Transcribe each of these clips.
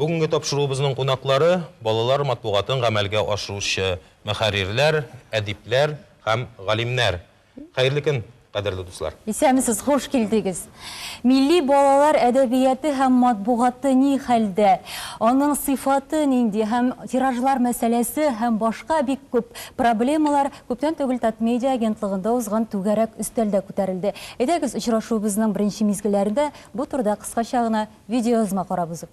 Бүгенге тапшыруыбызның кунаклары балалар матбугатын гамәлгә ашыручы мөхәррирләр, әдипләр һәм галимнәр. Хәерле көн, кадерле дуслар. Исәнмесез, хуш килдегез. Милли балалар әдәбияты һәм матбугаты ни хәлдә, аның сыйфаты нинди һәм тиражлар мәсьәләсе һәм башка бик күп проблемалар күптән түгел Татмедиа агентлыгында узган түгәрәк өстәлдә күтәрелде. Әйдәгез, очрашуыбызның беренче мизгелләрендә бу турыда кыскача гына видеоязма карап узыйк.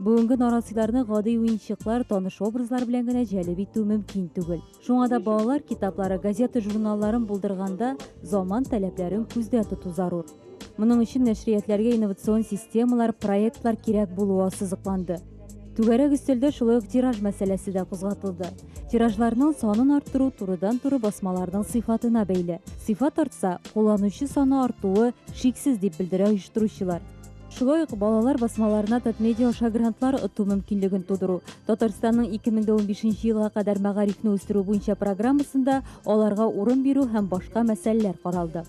Бүгенге нарасыйларны гади уенчыклар, таныш образлар белән генә җәлеп итү мөмкин түгел. Шуңа да балалар китаплары, газета журналларын булдырганда заман таләпләрен күздә тоту зарур. Моның өчен нәшриятләргә инновацион системалар, проектлар кирәк булуы ассызыкланды. Түгәрәк өстәлдә шулай ук тираж мәсьәләсе дә кузгатылды. Тиражларның санын арттыру турыдан-туры басмаларның сыйфатына бәйле. Сыйфат артса, кулланучы саны артуы шиксез, дип белдерә оештыручылар. Шулай ук балалар басмаларына Татмедиа аша грантлар оту мөмкинлеген тудыру, Татарстанның 2015 елга кадәр мәгарифне үстерү буенча программасында аларга урын бирү һәм башка мәсьәләләр каралды.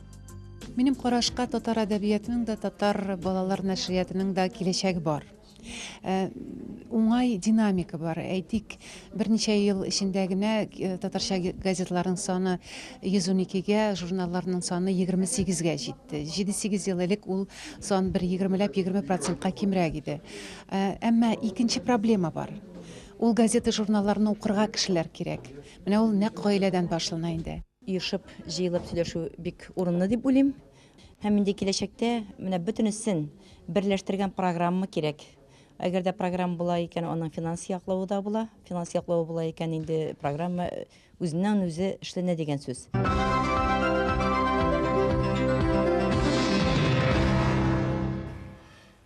Минем карашка татар әдәбиятының да, татар балалар нәшриятының да киләчәге бар. Э, уңай динамика бар. Әйтик, Берничә ел эчендә генә татарча газетларның саны 112-гә, журналларның саны 28-гә җитте. Җиде-сигез ел элек ул сан бер егермеләп егерме процентка кимрәк иде. Әмма икенче проблема бар. Ул газета-журналларны укырга кешеләр кирәк. Менә ул нәкъ гаиләдән башлана инде. Оешып, җыелып сөйләшү бик урынлы дип уйлыйм. Һәм инде киләчәктә менә бөтенесен берләштергән программа кирәк. Әгәр дә программа була икән, аның финанс яклавы да була. Финанс яклавы була икән, инде программа үзеннән-үзе эшләнә дигән сүз.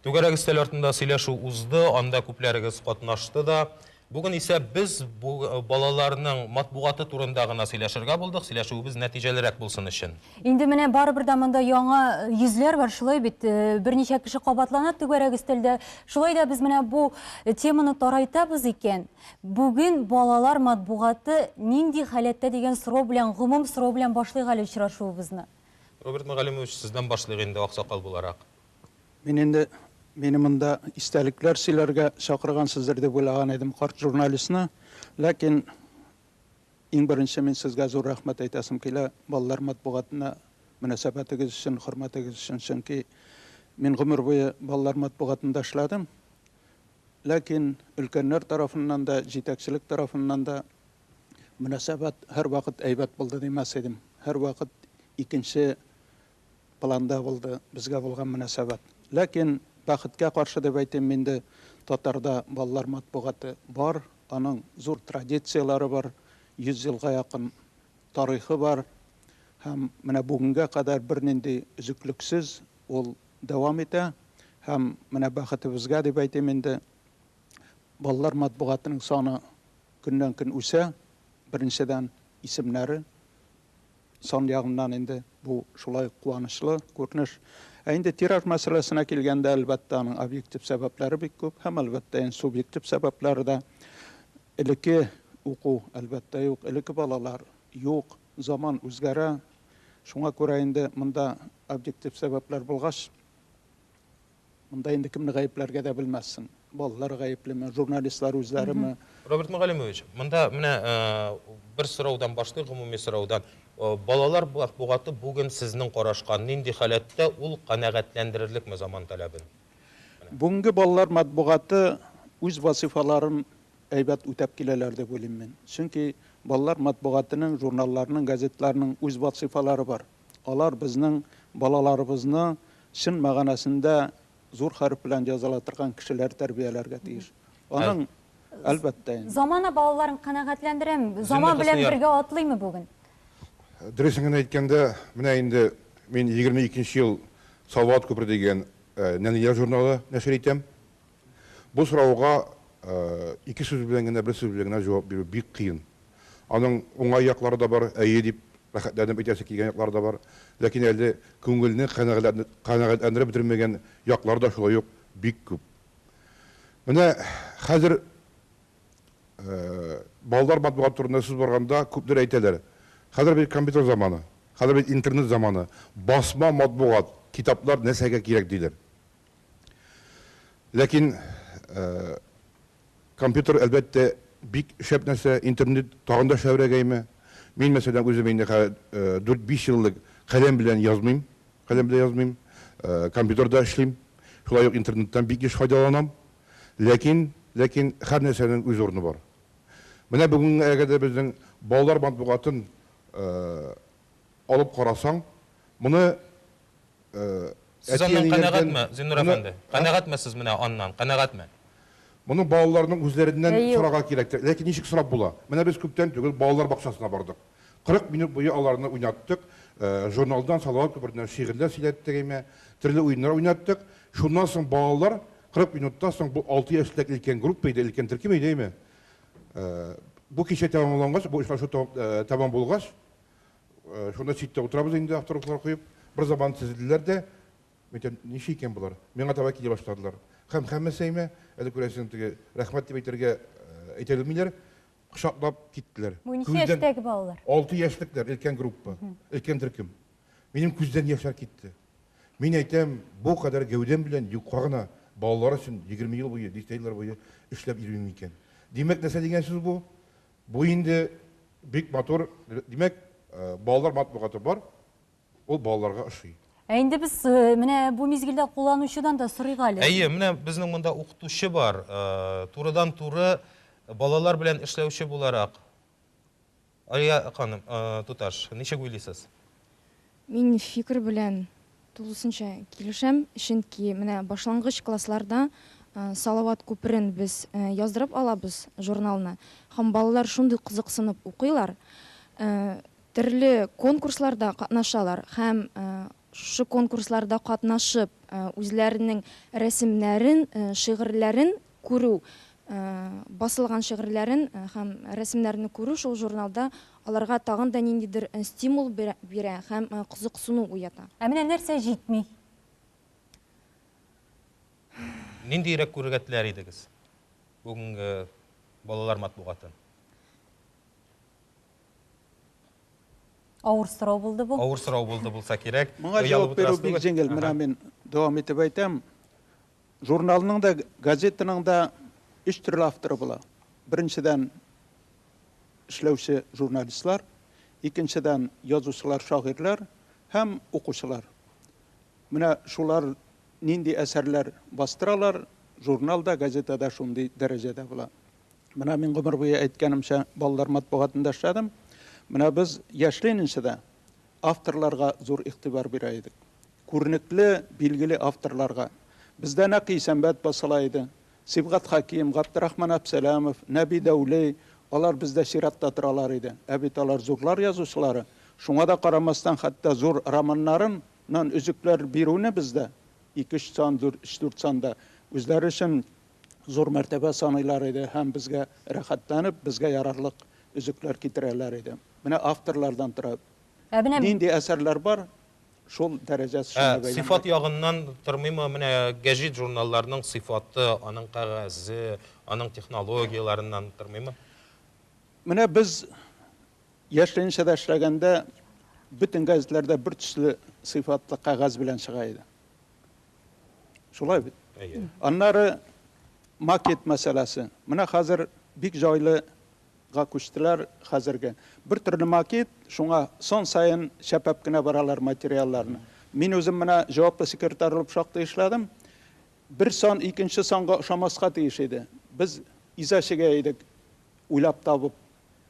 Түгәрәк өстәл артында сөйләшү узды, анда күпләрегез катнашты да. Бүген исә без бу балаларның матбугаты турында гына сөйләшергә булдык, сөйләшүебез нәтиҗәлерәк булсын өчен. Инде менә барыбер дә монда яңа йөзләр бар, шулай бит, берничә кеше кабатлана түгәрәк өстәлдә. Шулай да без менә бу теманы тарайтабыз икән, бүген балалар матбугаты нинди халәттә дигән сорау белән, гомум сорау белән башлыйк әле очрашуыбызны. Роберт Мөгаллимович, сездән башлыйк инде, аксакал буларак. Мин инде мине монда истәлекләр сөйләргә чакыргансыздыр дип уйлаган идем карт журналистны, ләкин иң беренче мин сезгә зур рәхмәт әйтәсем килә балалар матбугатына мөнәсәбәтегез өчен, хөрмәтегез өчен, чөнки мин гомер буе балалар матбугатында эшләдем, ләкин өлкәннәр тарафыннан да, җитәкчелек тарафыннан да мөнәсәбәт һәрвакыт әйбәт булды димәс идем, һәрвакыт икенче планда булды безгә булган мөнәсәбәт. Ләкин, бәхеткә каршы дип әйтим, инде татарда балалар матбугаты бар, аның зур традицияләре бар, 100 елга якын тарихы бар һәм менә бүгенгә кадәр бернинди өзеклексез ул дәвам итә. Һәм менә бәхетебезгә дип әйтим инде, балалар матбугатының саны көннән-көн үсә, беренчедән, исемнәре, Сан ягыннан инде бу шулай ук куанычлы күренеш. Ә инде тираж мәсьәләсенә килгәндә, әлбәттә, аның объектив сәбәпләре бик күп һәм, әлбәттә, ин субъектив сәбәпләре дә. Элекке уку, әлбәттә, юк, элекке балалар юк, заман үзгәрә. Шуңа күрә инде монда объектив сәбәпләр булгач, Монда инде кемне гаепләргә дә белмәссең. Балалар гаеплеме, журналистлар үзләреме? Роберт Мөгаллимович, монда менә бер сораудан башлыйк, гомуми сораудан. Балалар матбугаты бүген сезнең карашка нинди халәттә, ул канәгатьләндерерлекме заман таләбен? Бүгенге балалар матбугаты үз вазыйфаларын әйбәт үтәп киләләр дип уйлыйм мин. Чөнки балалар матбугатының, журналларның, газетларның үз вазыйфалары бар. Алар безнең балаларыбызны чын мәгънәсендә зур хәреф белән языла торган кешеләр тәрбияләргә тиеш. Аның, әлбәттә инде. Замана балаларын канәгатьләндерәме? Заман белән бергә атлыймы бүген? Дөресен генә әйткәндә, менә инде мин егерме икенче ел Салават күпере дигән нәниләр журналы нәшер итәм. Бу сорауга ике сүз белән генә, бер сүз белән генә җавап бирү бик кыен. Аның уңай яклары да бар, әйе дип рәхәтләнеп әйтәсе килгән яклары да бар, ләкин әле күңелне канәгатьләндереп бетермәгән яклары да шулай ук бик күп. Менә хәзер балалар матбугаты турында сүз барганда күпләр әйтәләр, хәзер бит компьютер заманы, хәзер бит интернет заманы, басма матбугат, китаплар нәрсәгә кирәк диләр. Ләкин компьютер, әлбәттә, бик шәп нәрсә, интернет тагын да шәбрәгәйме. Мин, мәсәлән, үзем инде хәзер дүрт-биш еллык каләм белән язмыйм, каләм белән язмыйм, компьютерда эшлим, шулай ук интернеттан бик еш файдаланам. Ләкин, ләкин һәр нәрсәнең үз урыны бар. Менә бүгенгә кадәр безнең балалар матбугатын алып карасаң, Моны Сез аннан канәгатьме, Зиннур әфәнде? Канәгатьме сез менә аннан, канәгатьме? Моны балаларның үзләреннән сорарга кирәк. Ләкин ничек сорап була? Менә без күптән түгел балалар бакчасына бардык. 40 минут буе аларны уйнаттык. Журналдан, Салават күпереннән шигырьләр сөйләттек, әйме, төрле уеннар уйнаттык. Шуннан соң балалар 40 минуттан соң, бу алты яшьлек өлкән группа иде, өлкән төркем иде, әйме. Бу кичә тәмамлангач, бу очрашу тәмам булгач, Э, шунда читтә утырабыз инде авторухлар куеп бер заман тезелделәр дә мен әйтәм ничә икән болар миңа таба килә башладылар һәм һәммәсәймә әле күрәсең теге рәхмәт дип әйтергә э, әйтә белмиләр кочаклап киттеләр бу ничә яшьтәге балалар алты яшьлекләр өлкән группа өлкән төркем минем күздән яшьләр китте мин әйтәм бу кадәр гәүдәм белән юкка гына балалар өчен егерме ел буе дистә еллар буе эшләп йөрим икән димәк нәрсә дигән сүз бу Бу инде бик матур, димәк, балалар матбугаты бар, ул балаларга ошый. Ә инде без менә бу мизгелдә кулланучыдан да сорыйк әле. Әйе, менә безнең монда укытучы бар, турыдан-туры балалар белән эшләүче буларак. Алия ханым, туташ, ничек уйлыйсыз? Мин фикер белән тулысынча килешәм, чөнки менә башлангыч классларда Салават күперен без яздырып алабыз журналны һәм балалар шундый кызыксынып укыйлар, төрле конкурсларда катнашалар һәм шушы конкурсларда катнашып үзләренең рәсемнәрен, шигырьләрен күрү, басылган шигырьләрен һәм рәсемнәрне күрү шул журналда аларга тагын да ниндидер стимул бирә һәм кызыксыну уята. Ә менә нәрсә җитми? Ниндиерәк күрергә теләр идегез бүгенге балалар матбугатын? Авыр сорау булды бу. Авыр сорау булды булса кирәк. Моңа җавап бирү бик җиңел. Менә мин дәвам итеп әйтәм. Журналның да, газетаның да өч төрле авторы була. Беренчедән, эшләүче журналистлар, икенчедән, язучылар, шагыйрьләр һәм укучылар. Менә шулар нинди әсәрләр бастыралар, журнал да, газета да шундый дәрәҗәдә була. Менә мин гомер буе әйткәнемчә, балалар матбугатында эшләдем. Менә без яшьли нче дә, авторларга зур игътибар бирә идек. Күренекле, билгеле авторларга. Бездә нәкъ Исәнбәт басыла иде. Сибгат Хәким, Габдрахман Әпсәләмов, Нәби Дәүли, алар бездә чиратта торалар иде. Ә бит алар зурлар язучылары. Шуңа да карамастан, хәтта зур романнарын нан өзекләр бирүне бездә, ике-өч сан, дүрт-өч-дүрт санда, үзләре өчен зур мәртәбә саныйлар иде һәм безгә рәхәтләнеп, безгә ярарлык өзекләр китерәләр иде. Менә авторлардан тора. Ә менә. Нинди әсәрләр бар, шул дәрәҗә шуңа бәйләнгән. Ә сыйфат ягыннан тормыймы? Менә гәҗит-журналларның сыйфаты, аның кәгазе, аның технологияләреннән тормыймы? Менә без Яшьленинчеда эшләгәндә бөтен гәзитләрдә бертөсле сыйфатлы кәгазь белән чыга иде. Шулай бит? Әйе. Аннары макет мәсьәләсе. Менә хәзер бик җайлы га күчтеләр хәзерге. Бер төрле макет, шуңа сон саен чәпәп кенә баралар материалларны. Мин үзем менә җаваплы секретарь булып шактый эшләдем. Бер сон икенче сонга ошамаска тиеш иде. Без иза чигә идек, уйлап табып.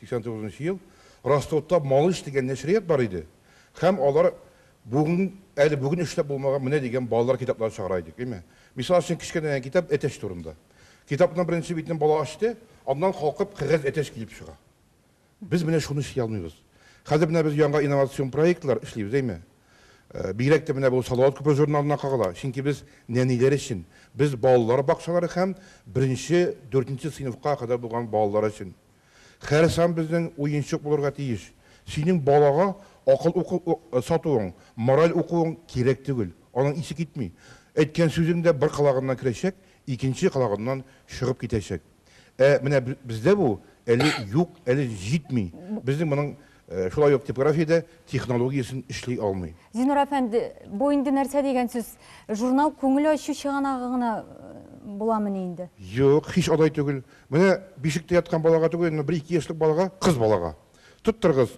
89 нчы ел Ростовта Малыш дигән нәшрият бар иде һәм алар бүген, әле бүген эшләп булмаган менә дигән балалар китапларын чыгара идек, әйме. Мисал өчен, кечкенә генә китап Әтәч турында. Китапның беренче битен бала ачты, аннан калкып кәгазь әтәч килеп чыга. Без менә шуны эшли алмыйбыз. Хәзер менә без яңа инновацион проектлар эшлибез, әйме. Бигрәк тә менә бу Салават күпер журналына кагыла, чөнки без нәниләр өчен, без балалар бакчалары һәм беренче, дүртенче сыйныфка кадәр булган балалар өчен. Хәрсам безнең уенчык булырга тиеш. Синең балага акыл укып сатуың, мораль укуың кирәк түгел. Аның исе китми. Әйткән сүзең дә бер колагыннан керәчәк, икенче колагыннан чыгып китәчәк. Ә менә бездә бу әле юк, әле җитми. Безнең моның Шулай ук типография дә технология өчен эшли алмый. Зинур әфәнде, бу инде нәрсә дигән сүз? Журнал күңел ачу чыганагы гына буламыни инде? Юк, һич алай түгел. Менә бишектә яткан балага түгел, әмма бер-ике яшьлек балага, кыз балага, Тоттырыгыз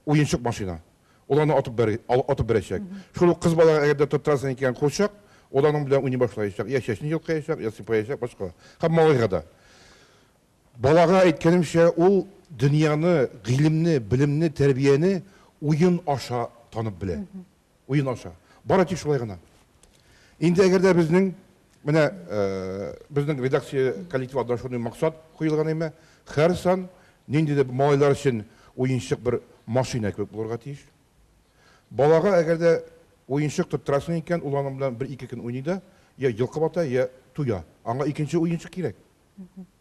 уенчык машина, ул аны атып бер, атып бирәчәк. Шул ук кыз балага әгәр дә тоттырасың икән курчак, ул аның белән уйный башлаячак, йә чәчен йолкыячак, йә сыйпаячак, башка. Һәм малайга да. Балага әйткәнемчә, ул дөньяны, гыйлемне, белемне, тәрбияне уен аша танып белә. Уен аша. Бары тик шулай гына. Инде әгәр дә безнең, менә безнең редакция коллективы алдына шундый максат куелган име, һәр сан нинди дә малайлар өчен уенчык бер машина кебек булырга тиеш. Балага әгәр дә уенчык тоттырасың икән, ул аның белән бер-ике көн уйный да, йә йолкып ата, йә туя. Аңа икенче уенчык кирәк.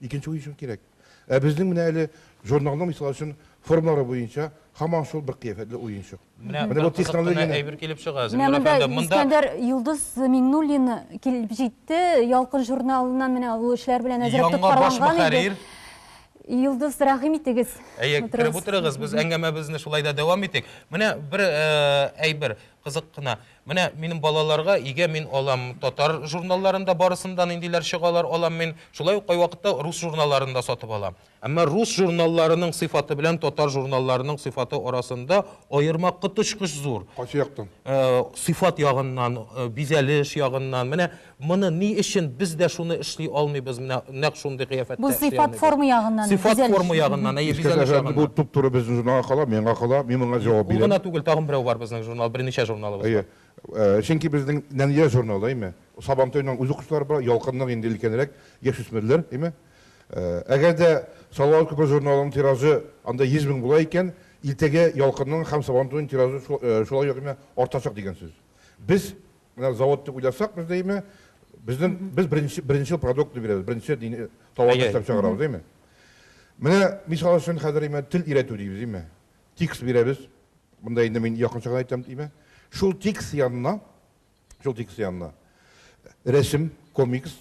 Икенче уен өчен кирәк. Ә безнең менә әле журналның мисал өчен формалары буенча һаман шул бер кыяфәтле уенчык. Менә бу технология әйбер килеп чыга. Менә монда Искәндәр Юлдыз Миңнуллин килеп җитте. Ялкын журналыннан менә ул эшләр белән әзрәк тоткарланган иде. Юлдыз, рәхим итегез. Әйе, кереп утырыгыз. Без әңгәмәбезне шулай да дәвам итик. Менә бер әйбер кызык кына. Менә минем балаларга игә мин алам, татар журналларында барысында ниндиләр чыгалар алам мин, шулай ук кайвакытта рус журналларын да сатып алам. Әмма рус журналларының сыйфаты белән татар журналларының сыйфаты арасында аерма коточкыч зур. Кайсы яктан? Сыйфат ягыннан, бизәлеш ягыннан, менә. Моны ни өчен без дә шуны эшли алмыйбыз, менә нәкъ шундый кыяфәттә Бу эшли сыйфат алмыйбыз? форма ягыннан, Сыйфат бизәлеш. форма ягыннан, әйе, Искәртә бизәлеш ягыннан. Бу туп-туры безнең журналга кала, миңа кала, мин моңа җавап бирәм. Ул гына түгел, тагын берәү бар безнең журнал, берничә журналыбыз бар. Әйе. Чөнки безнең Нәния журналы, әйме? Сабантуйның үзе кошлары бар, Ялкынның инде өлкәнрәк, яшүсмерләр, әйме? Әгәр дә Салават күпер журналының тиражы анда 100 мең була икән, Илтәгә, Ялкынның һәм Сабантуйның тиражы шулай ук, әйме, артачак дигән сүз. Без Менә завод дип уйласак без дәйме, безнең без беренче беренче продуктны бирәбез, беренче дини товарны Әйе. эшләп чыгарабыз, дәйме? Менә мисал өчен хәзер дәйме тел өйрәтү дибез, дәйме? Текст бирәбез. Монда инде мин якынча гына әйтәм, дәйме? Шул текст янына, шул текст янына рәсем, комикс,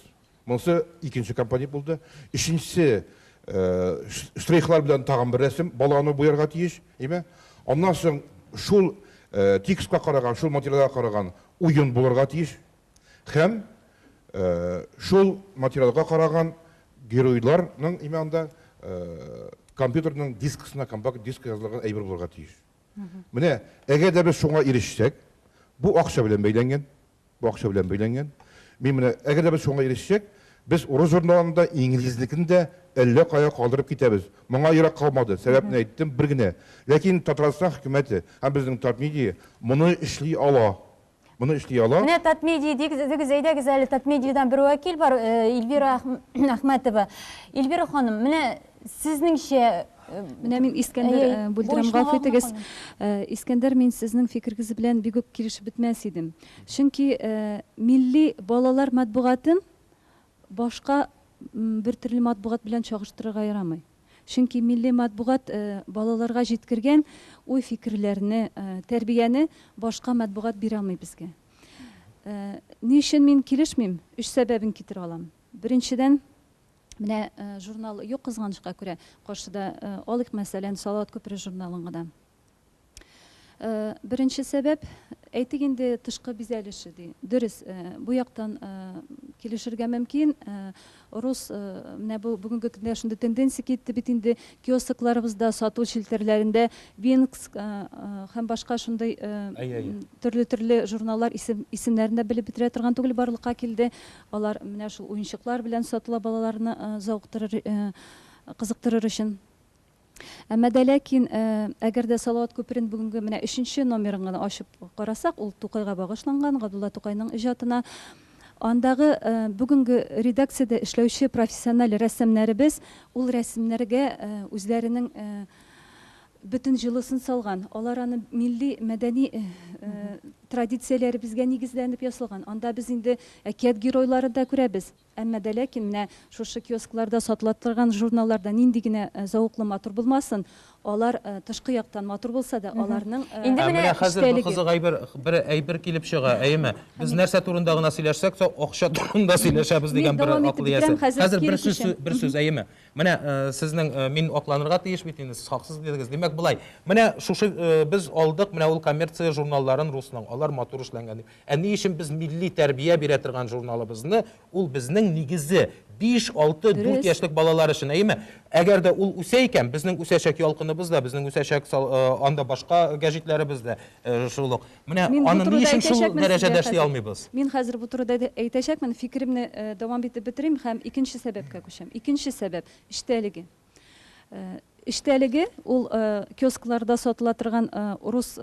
Монысы икенче компонент булды. Өченчесе, штрихлар белән тагын бер рәсем, баланы буярга тиеш, әйме? Аннан соң шул текстка караган, шул материалга караган уен булырга тиеш һәм шул материалга караган геройларның, әйме, анда компьютерның дискысына, компакт дискка язылган әйбер булырга тиеш. Менә, әгәр дә без шуңа ирешсәк, бу акча белән бәйләнгән, Бакча белән бәйләнгән. Мин менә, әгәр дә без шуңа ирешсәк, без урыс журналын да, инглизнекен дә әллә кая калдырып китәбез. Моңа ерак калмады. Сәбәпне әйттем, бер генә. Ләкин Татарстан хөкүмәте һәм безнең Татмедиа моны эшли ала. Моны эшли ала. Менә Татмедиа дигез, әйдәгез әле Татмедиадан бер вәкил бар, Эльвира Әхмәтова. Эльвира ханым, менә Сезнеңчә Менә мин Искәндәр э, бүлдерәм, гафу итегез. Э, Искәндәр, мин сезнең фикергез белән бик үк килешеп бетмәс идем. Чөнки э, милли балалар матбугатын башка бер төрле матбугат белән чагыштырырга ярамый. Чөнки милли матбугат балаларга җиткергән уй фикерләрне, тәрбияне башка матбугат бирә алмый безгә. Ни өчен мин килешмим? Өч сәбәбен китерә алам. Беренчедән, Менә э, журнал юк кызганычка күрә, каршыда э, алыйк мәсәлән Салават күпере журналын гына. Э, беренче сәбәп, әйтик инде тышкы бизәлеше ди. Дөрес, э, бу яктан э, килешергә мөмкин. Рус менә бу бүгенге көндә шундый тенденция китте бит инде киоскларыбызда, сату челтәрләрендә Винкс һәм башка шундый төрле-төрле журналлар исем, исемнәрен дә белеп бетерә торган түгел барлыкка килде. Алар менә шул уенчыклар белән сатыла балаларны зауктырыр, кызыктырыр өчен. Әмма дә ләкин, әгәр дә Салават күперен бүгенге менә өченче номерын гына ачып карасак, ул Тукайга багышланган, Габдулла Тукайның иҗатына. Андагы бүгенге редакциядә эшләүче профессиональ рәссамнәребез ул рәсемнәргә үзләренең Бөтен җылысын салган. Алар аны милли, мәдәни традицияләребезгә нигезләнеп ясалган. Анда без инде әкият геройларын да күрәбез. Әмма дә ләкин менә шушы киоскларда сатыла торган журналларда нинди генә зәвыклы матур булмасын, алар тышкы яктан матур булса да, аларның Ә менә хәзер бер кызык әйбер, бер әйбер килеп чыга, әйеме? Без нәрсә турында гына сөйләшсәк тә, акча турында сөйләшәбез дигән бер акыл иясе. Хәзер бер сүз, бер сүз, әйеме? Менә сезнең мин акланырга тиеш бит инде, сез хаксыз дидегез. Димәк болай, менә шушы без алдык, менә ул коммерция журналларын русның, алар матур эшләнгән дип. Ә ни өчен без милли тәрбия бирә торган журналыбызны, ул безнең нигезе, биш, алты, дүрт яшьлек балалар өчен, әйеме? Әгәр дә ул үсә икән, безнең үсәчәк Ялкыныбыз да, безнең үсәчәк анда башка гәҗитләребез дә шул ук. Менә аны ни өчен шул дәрәҗәдә эшли алмыйбыз? Мин хәзер бу турыда әйтәчәкмен, фикеремне дәвам итеп бетерим һәм икенче сәбәпкә күчәм. Икенче сәбәп, эчтәлеге. Эчтәлеге, ул киоскларда сатыла торган урыс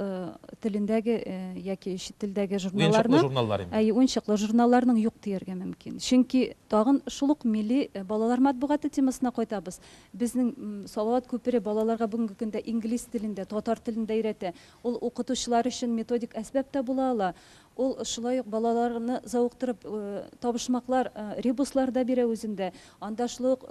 телендәге яки чит телдәге журналларның. Уенчыклы журналлар инде. Әйе, уенчыклы журналларның юк дияргә мөмкин. Чөнки тагын шул ук милли балалар матбугаты темасына кайтабыз. Безнең Салават күпере балаларга бүгенге көндә инглиз телендә, татар телендә өйрәтә. Ул укытучылар өчен методик әсбап та була ала. Ул шулай ук балаларны зауыктырып, табышмаклар, ребуслар да бирә үзендә. Анда шулай ук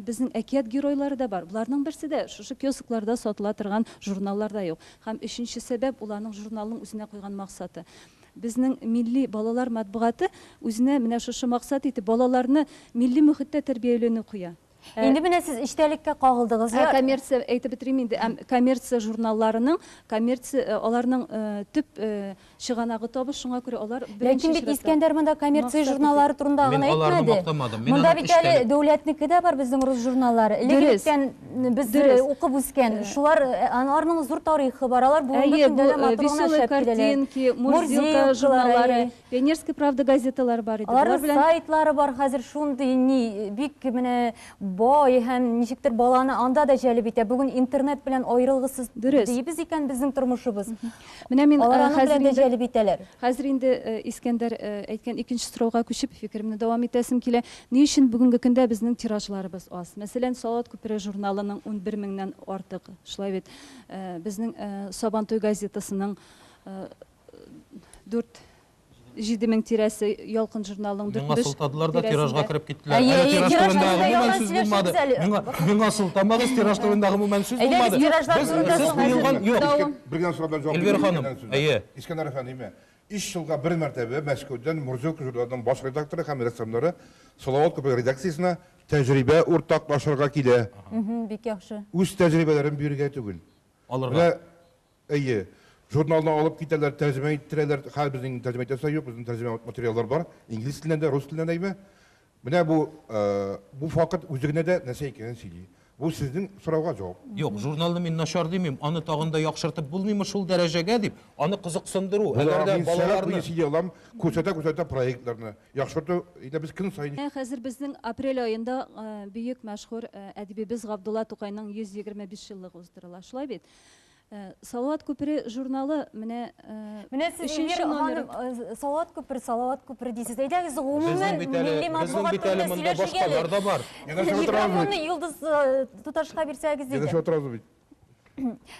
безнең әкият геройлары да бар. Боларның берсе дә шушы киоскларда сатыла торган журналларда юк. Һәм өченче сәбәп, ул аның журналның үзенә куйган максаты. Безнең милли балалар матбугаты үзенә менә шушы максат итеп, балаларны милли мөхеттә тәрбияләнү куя. Инде менә сез эчтәлеккә кагылдыгыз. Ә коммерция әйтеп бетерим инде. Әм коммерция журналларының, коммерция э, аларның э, төп э, чыганагы табыш, шуңа күрә алар Ләкин бит Искәндәр монда коммерция журналлары турында гына әйтмәде. Мин аларны мактамадым. Мин монда бит әле дәүләтнеке дә бар безнең рус журналлары. Электән без укып үскән. Э. Шулар э, аларның зур тарихы бар. Алар бүгенге көндә дә матур гына эшләп киләләр. Мурзилка журналлары Пионерская правда газеталары бар иде. Алар белән сайтлары бар хәзер шундый ни бик менә бай һәм ничектер баланы анда да җәлеп итә. Бүген интернет белән аерылгысыз дибез икән безнең тормышыбыз. Менә мин э, хәзер инде җәлеп итәләр. Хәзер инде э, Искәндәр э, әйткән икенче сорауга күчеп фикеремне дәвам итәсем килә. Ни өчен бүгенге көндә безнең тиражларыбыз аз? Мәсәлән, Салат күпере журналының 11 меңнән артык, шулай бит. Безнең Сабантуй газетасының дүрт җиде мең тирәсе ялкын журналының дүрт миңа сылтадылар да тиражга кереп киттеләр әле тираж турында гомумән сүз булмады миңа сылтамагыз тираж турында гомумән сүз булмады сез куелган юк бер генә сораудан җавап эльвира ханым әйе искәндәр әфәндеме өч елга бер мәртәбә мәскәүдән мурзилка журналының баш редакторы һәм рәссамнары салават күпер редакциясенә тәҗрибә уртаклашырга килә бик яхшы үз тәҗрибәләрен бирергә түгел алырга Әйе. Журналны алып китәләр, тәрҗемә иттерәләр. Хәер, безнең инде тәрҗемә итәсе дә юк, безнең тәрҗемә материаллар бар. Инглиз теленнән дә, рус теленнән дә әйбә. Менә бу, бу факт үзе генә дә нәрсә икәнен сөйли. Бу сезнең сорауга җавап. Юк, журналны мин начар димим, аны тагын да яхшыртып булмыймы шул дәрәҗәгә дип, аны кызыксындыру, Була, әгәр дә мин сәгать балаларны. буе сөйли алам, күрсәтә-күрсәтә проектларны. Яхшырту, әйтәм, без көн саен. Менә хәзер безнең апрель аенда бөек мәшһүр әдибебез Габдулла Тукайның 125 еллыгы уздырыла, шулай бит? Салават күпере журналы менә Менә сез Эльвира ханым Салават күпер, Салават күпер дисез. Әйдәгез гомумән милли матбугат турында сөйләшергә. Микрофонны Йолдыз туташка бирсәгез иде. Янәшә утырабыз бит.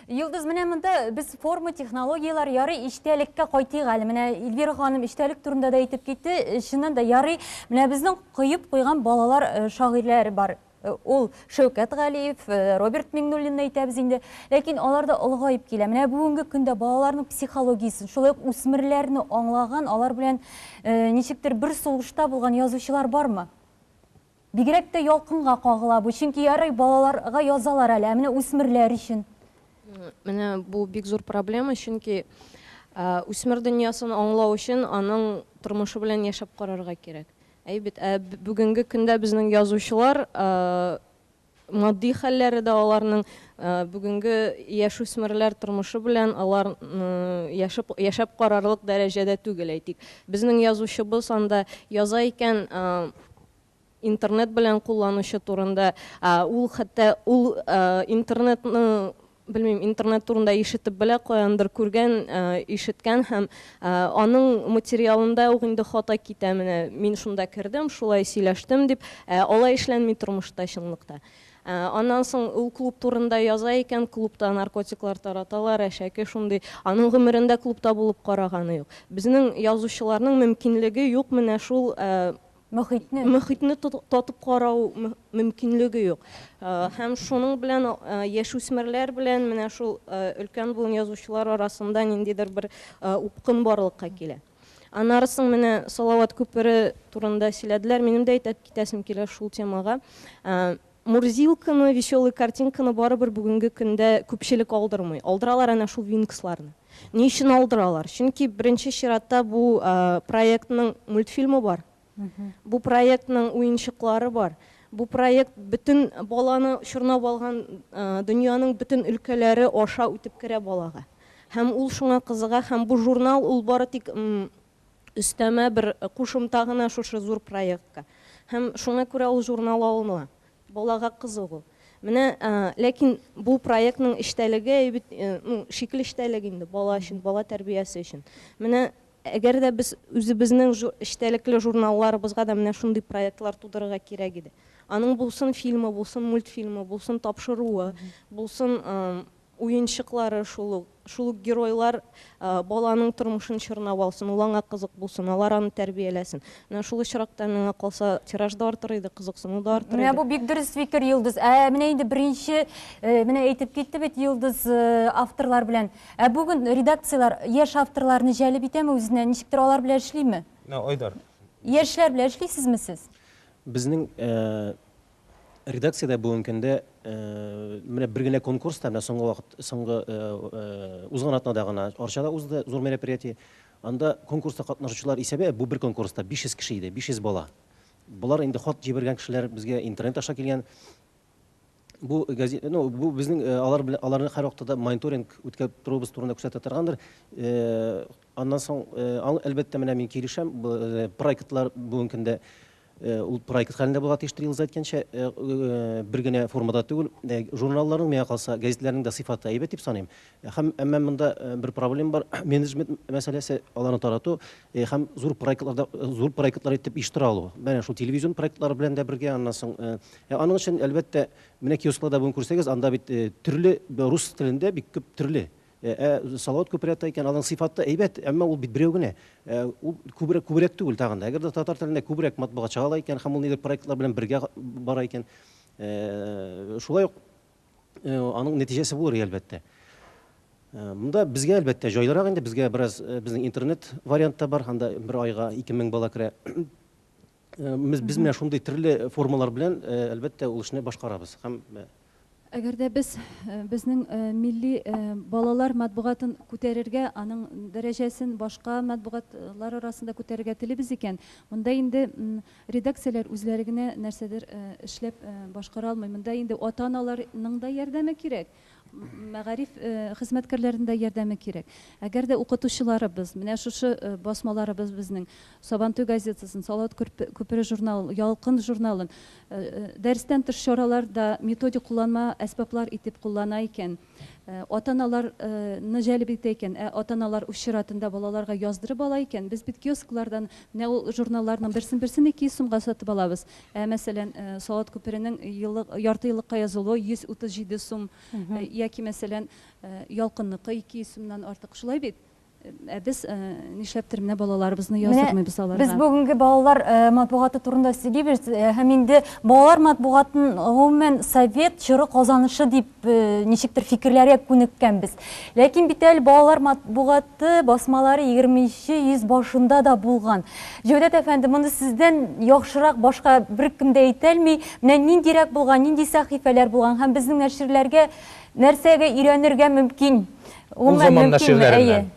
Йолдыз, менә монда без форма, технологияләр, ярый эчтәлеккә кайтыйк әле. Менә Эльвира ханым эчтәлек турында да әйтеп китте. Чыннан да ярый, менә безнең коеп куйган балалар шагыйрьләре бар. Ул Шәүкәт Галиев, Роберт Миңнуллинны әйтәбез инде. Ләкин алар да олыгаеп килә. Менә бүгенге көндә балаларның психологиясен, шулай ук үсмерләрне аңлаган, алар белән ничектер бер сулышта булган язучылар бармы? Бигрәк тә ялкынга кагыла бу. Чөнки ярый, балаларга язалар әле, ә менә үсмерләр өчен? Менә бу бик зур проблема, чөнки үсмер дөньясын аңлау өчен аның тормышы белән яшәп карарга кирәк. Әй бит, ә бүгенге көндә безнең язучылар матди хәлләре дә аларның бүгенге яшүсмерләр тормышы белән алар яшәп, яшәп карарлык дәрәҗәдә түгел, әйтик. Безнең язучыбыз анда яза икән интернет белән кулланучы турында, ул хәтта ул интернетның белмим, интернет турында ишетеп белә, каяндыр күргән, ишеткән һәм аның материалында ук инде хата китә, менә мин шунда кердем, шулай сөйләштем дип. Ә алай эшләнми тормышта, чынлыкта. Аннан соң ул клуб турында яза икән, клубта наркотиклар тараталар, әшәке шундый. Аның гомерендә клубта булып караганы юк. Безнең язучыларның мөмкинлеге юк менә шул мохитне мохитне татып карау мөмкинлеге юк. Һәм шуның белән яшүсмерләр белән менә шул өлкән буын язучылар арасында ниндидер бер упкын барлыкка килә. Аннары соң менә Салават күпере турында сөйләделәр. Минем дә әйтеп китәсем килә шул темага. Мурзилканы, Веселые картинканы барыбер бүгенге көндә күпчелек алдырмый. Алдыралар әнә шул Винксларны. Ни өчен алдыралар? Чөнки беренче чиратта бу проектның мультфильмы бар. Бу проектның уенчыклары бар. Бу проект бөтен баланы чорнап алган дөньяның бөтен өлкәләре аша үтеп керә балага. Һәм ул шуңа кызыга һәм бу журнал ул бары тик Өстәмә бер кушымта гына шушы зур проектка. Һәм шуңа күрә ул журнал алына. Балага кызыгу. Менә, ләкин бу проектның эчтәлеге бит, ну, шикел эчтәлек инде, бала өчен, бала тәрбиясе өчен. Менә әгәр дә без үзебезнең эчтәлекле журналларыбызга да менә шундый проектлар тудырырга кирәк иде. Аның булсын фильмы, булсын мультфильмы, булсын тапшыруы, булсын, уенчыклары шул ук, шул ук геройлар баланың тормышын чорнап алсын, ул аңа кызык булсын, алар аны тәрбияләсен. Менә шул очракта, миңа калса, тираж да артыр иде, кызыксыну да артыр иде. Менә бу бик дөрес фикер, Йолдыз. Ә менә инде беренче, менә әйтеп китте бит Йолдыз авторлар белән. Ә бүген редакцияләр яшь авторларны җәлеп итәме үзенә, ничектер алар белән эшлиме? Айдар. Яшьләр белән эшлисезме сез? Безнең Редакциядә бүгенге көндә менә бер генә конкурс та, менә соңгы вакыт, соңгы узган атнада гына Арчада узды, зур мероприятие. Анда конкурста катнашучылар исәбе, бу бер конкурста 500 кеше иде, 500 бала. Болар инде хат җибәргән кешеләр, безгә интернет аша килгән. Бу гази, ну, бу безнең алар белән, аларны һәрвакытта да мониторинг үткәреп торуыбыз турында күрсәтә торгандыр. Аннан соң, әлбәттә, менә мин килешәм, проектлар бүгенге көндә Э, ул проект хәлендә булырга тиештер елза әйткәнчә э, э, бер генә формада түгел журналларның миңа калса гәзитләрнең дә сыйфаты әйбәт дип саныйм һәм әмма монда бер проблема бар менеджмент мәсьәләсе аларны тарату һәм зур проектларда зур проектлар итеп оештыра алу менә шул телевизион проектлар белән дә бергә аннан соң аның өчен әлбәттә менә киоскларда бүген күрсәгез анда бит төрле рус телендә бик күп төрле Ә Салават күбрәк әйткән, аның сыйфаты әйбәт, әмма ул бит берәү генә. Ул күбрәк, күбрәк түгел тагын да. Әгәр дә татар телендә күбрәк матбугат чыга ала икән һәм ул нидер проектлар белән бергә бара икән, шулай ук аның нәтиҗәсе булыр иде, әлбәттә. Монда безгә, әлбәттә, җайлырак инде, безгә бераз, безнең интернет вариант та бар, анда бер айга 2000 бала керә. Э, без без менә шундый төрле формалар белән э, әлбәттә ул эшне башкарабыз һәм э, Әгәр дә без э, безнең э, милли э, балалар матбугатын күтәрергә, аның дәрәҗәсен башка матбугатлар арасында күтәрергә телибез икән, монда инде м, редакцияләр үзләре генә нәрсәдер э, эшләп э, башкара алмый. Монда инде ата-аналарның да ярдәме кирәк. мәгариф хезмәткәрләренең дә ярдәме кирәк. Әгәр дә укытучыларыбыз, менә шушы басмаларыбыз безнең, Сабантуй газетасын, Салават күпере журналын, Ялкын журналын дәрестән тыш чараларда методик кулланма әсбаплар итеп куллана икән, ата-аналарны җәлеп итә икән, ә ата-аналар үз чиратында балаларга яздырып ала икән, без бит киосклардан менә ул журналларның берсен-берсен 200 сумга сатып алабыз, Ә, мәсәлән, Салават күперенең еллык, яртыеллыкка язылуы 137 сум, яки, мәсәлән, Ялкынныкы 200 сумнан артык. Шулай бит? Ә без нишләптер менә балаларыбызны яздырмыйбыз аларга. Без бүгенге балалар матбугаты турында сөйлибез һәм инде балалар матбугатын гомумән совет чоры казанышы дип ничектер фикерләргә күнеккәнбез. Ләкин бит әле балалар матбугат Ты басмалары егерменче йөз башында да булган. Җәүдәт әфәнде, моны сездән яхшырак башка беркем дә әйтәлми. Менә ниндирәк булган, нинди сәхифәләр булган һәм безнең нәширләргә нәрсәгә өйрәнергә мөмкин? Ул заман нәширләреннән.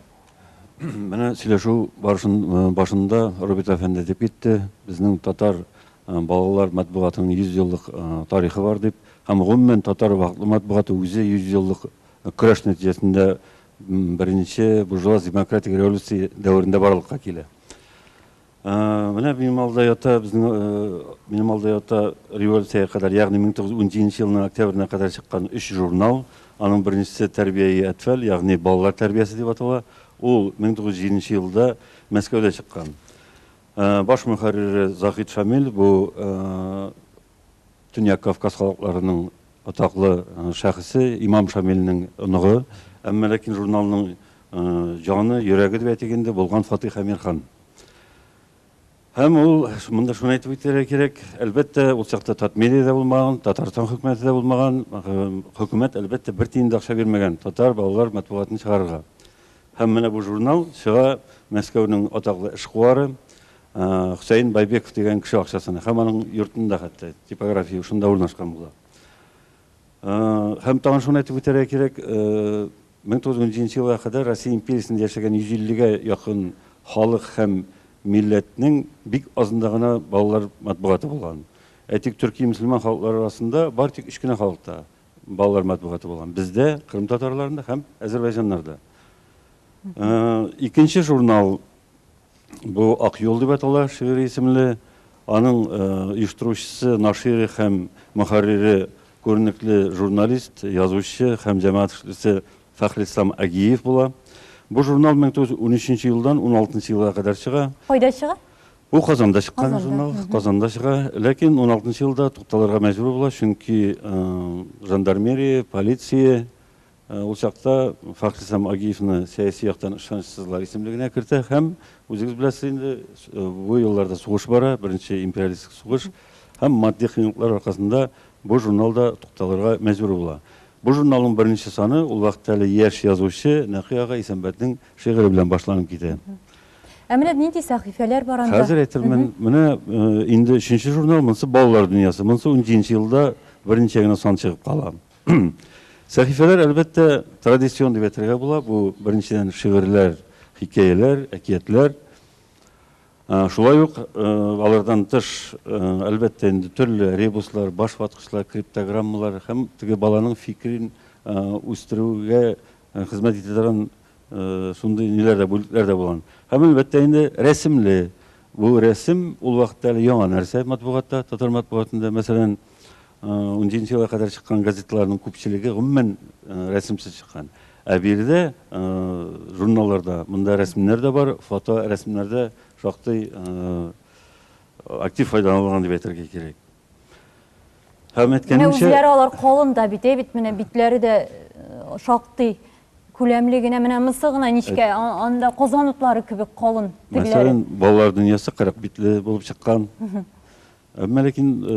Менә сөйләшү башында Роберт әфәнде әйтеп китте, безнең татар балалар матбугатының 100 еллык тарихы бар дип. Һәм гомумән татар матбугаты үзе 100 еллык көрәш нәтиҗәсендә Беренче буржуаз демократик революция дәверендә барлыкка килә. Менә минем алда ята, безнең минем алда ята революциягә кадәр, ягъни 1917 елның октябренә кадәр чыккан өч журнал. Аның беренчесе Тәрбияи әтфәл, ягъни балалар тәрбиясе дип атала. Ул 1907 елда Мәскәүдә чыккан. Баш мөхәррире Заһид Шамил бу Төньяк Кавказ халыкларының атаклы шәхесе, имам Шамилнең оныгы, әмма ләкин журналның җаны, йөрәге дип әйтик инде, булган Фатыйх Әмир хан. Һәм ул, монда шуны әйтеп үтәргә кирәк, әлбәттә, ул чакта Татмедия дә булмаган, Татарстан хөкүмәте дә булмаган, хөкүмәт, әлбәттә, бер тиен дә акча бирмәгән татар балалар матбугатын чыгарырга. Һәм менә бу журнал чыга Мәскәүнең атаклы эшкуары, Хөсәен Байбеков дигән кеше акчасына һәм аның йортында хәтта типография шунда урнашкан була. Һәм тагын шуны әйтеп үтәргә кирәк, 1917 елга кадәр Россия империясендә яшәгән 150 гә якын халык һәм милләтнең бик азында гына балалар матбугаты булган. Әйтик, төрки мөселман халыклары арасында бары тик өч кенә халыкта балалар матбугаты булган, бездә, кырым татарларында һәм әзербайҗаннарда. Икенче журнал Бу Ак юл дип атала, шигырь исемле. Аның оештыручысы, нашире һәм мөхәррире, күренекле журналист, язучы һәм җәмәгать эшлеклесе Фәхрислам Агиев була. Бу журнал 1913 елдан 16 елга кадәр чыга. Кайда чыга? Бу Казанда чыккан журнал, Казанда чыга. Ләкин 16 елда тукталырга мәҗбүр була, чөнки жандармерия, полиция Ул чакта Фахис һәм Агиевны сәяси яктан ышанычсызлар исемлегенә кертә һәм, үзегез беләсез инде, бу елларда сугыш бара, беренче империалистик сугыш, һәм матди кыенлыклар аркасында бу журнал да тукталырга мәҗбүр була. Бу журналның беренче саны ул вакытта әле яшь язучы Нәкый ага Исәнбәтнең шигыре белән башланып китә. Ә менә нинди сәхифәләр бар анда? Хәзер әйтермен. Менә инде өченче журнал, монысы Балалар дөньясы. Монысы унҗиденче елда берничә генә сан чыгып кала. Сәхифәләр, әлбәттә, традицион дип әйтергә була. Бу, беренчедән, шигырьләр, хикәяләр, әкиятләр. Шулай ук алардан тыш, әлбәттә, инде төрле ребуслар, башваткычлар, криптограммалар һәм теге баланың фикерен үстерүгә хезмәт итә торган Шундый ниләр дә, бүлекләр дә булган. Һәм, әлбәттә, инде рәсемле. Бу рәсем ул вакытта әле яңа нәрсә матбугатта, татар матбугатында. Мәсәлән, унҗиденче елга кадәр чыккан газеталарның күпчелеге гомумән рәсемсез чыккан. Ә биредә журналларда монда рәсемнәр дә бар, фоторәсемнәрдә шактый актив файдаланылган дип әйтергә кирәк. Һәм Менә үзләре алар калын да бит, бит менә битләре дә э, шактый күләмле генә, менә мысы гына нечкә, анда козан утлары кебек калын тегеләре. Мәсәлән, балалар дөньясы кырык битле булып чыккан. Әмма ләкин э,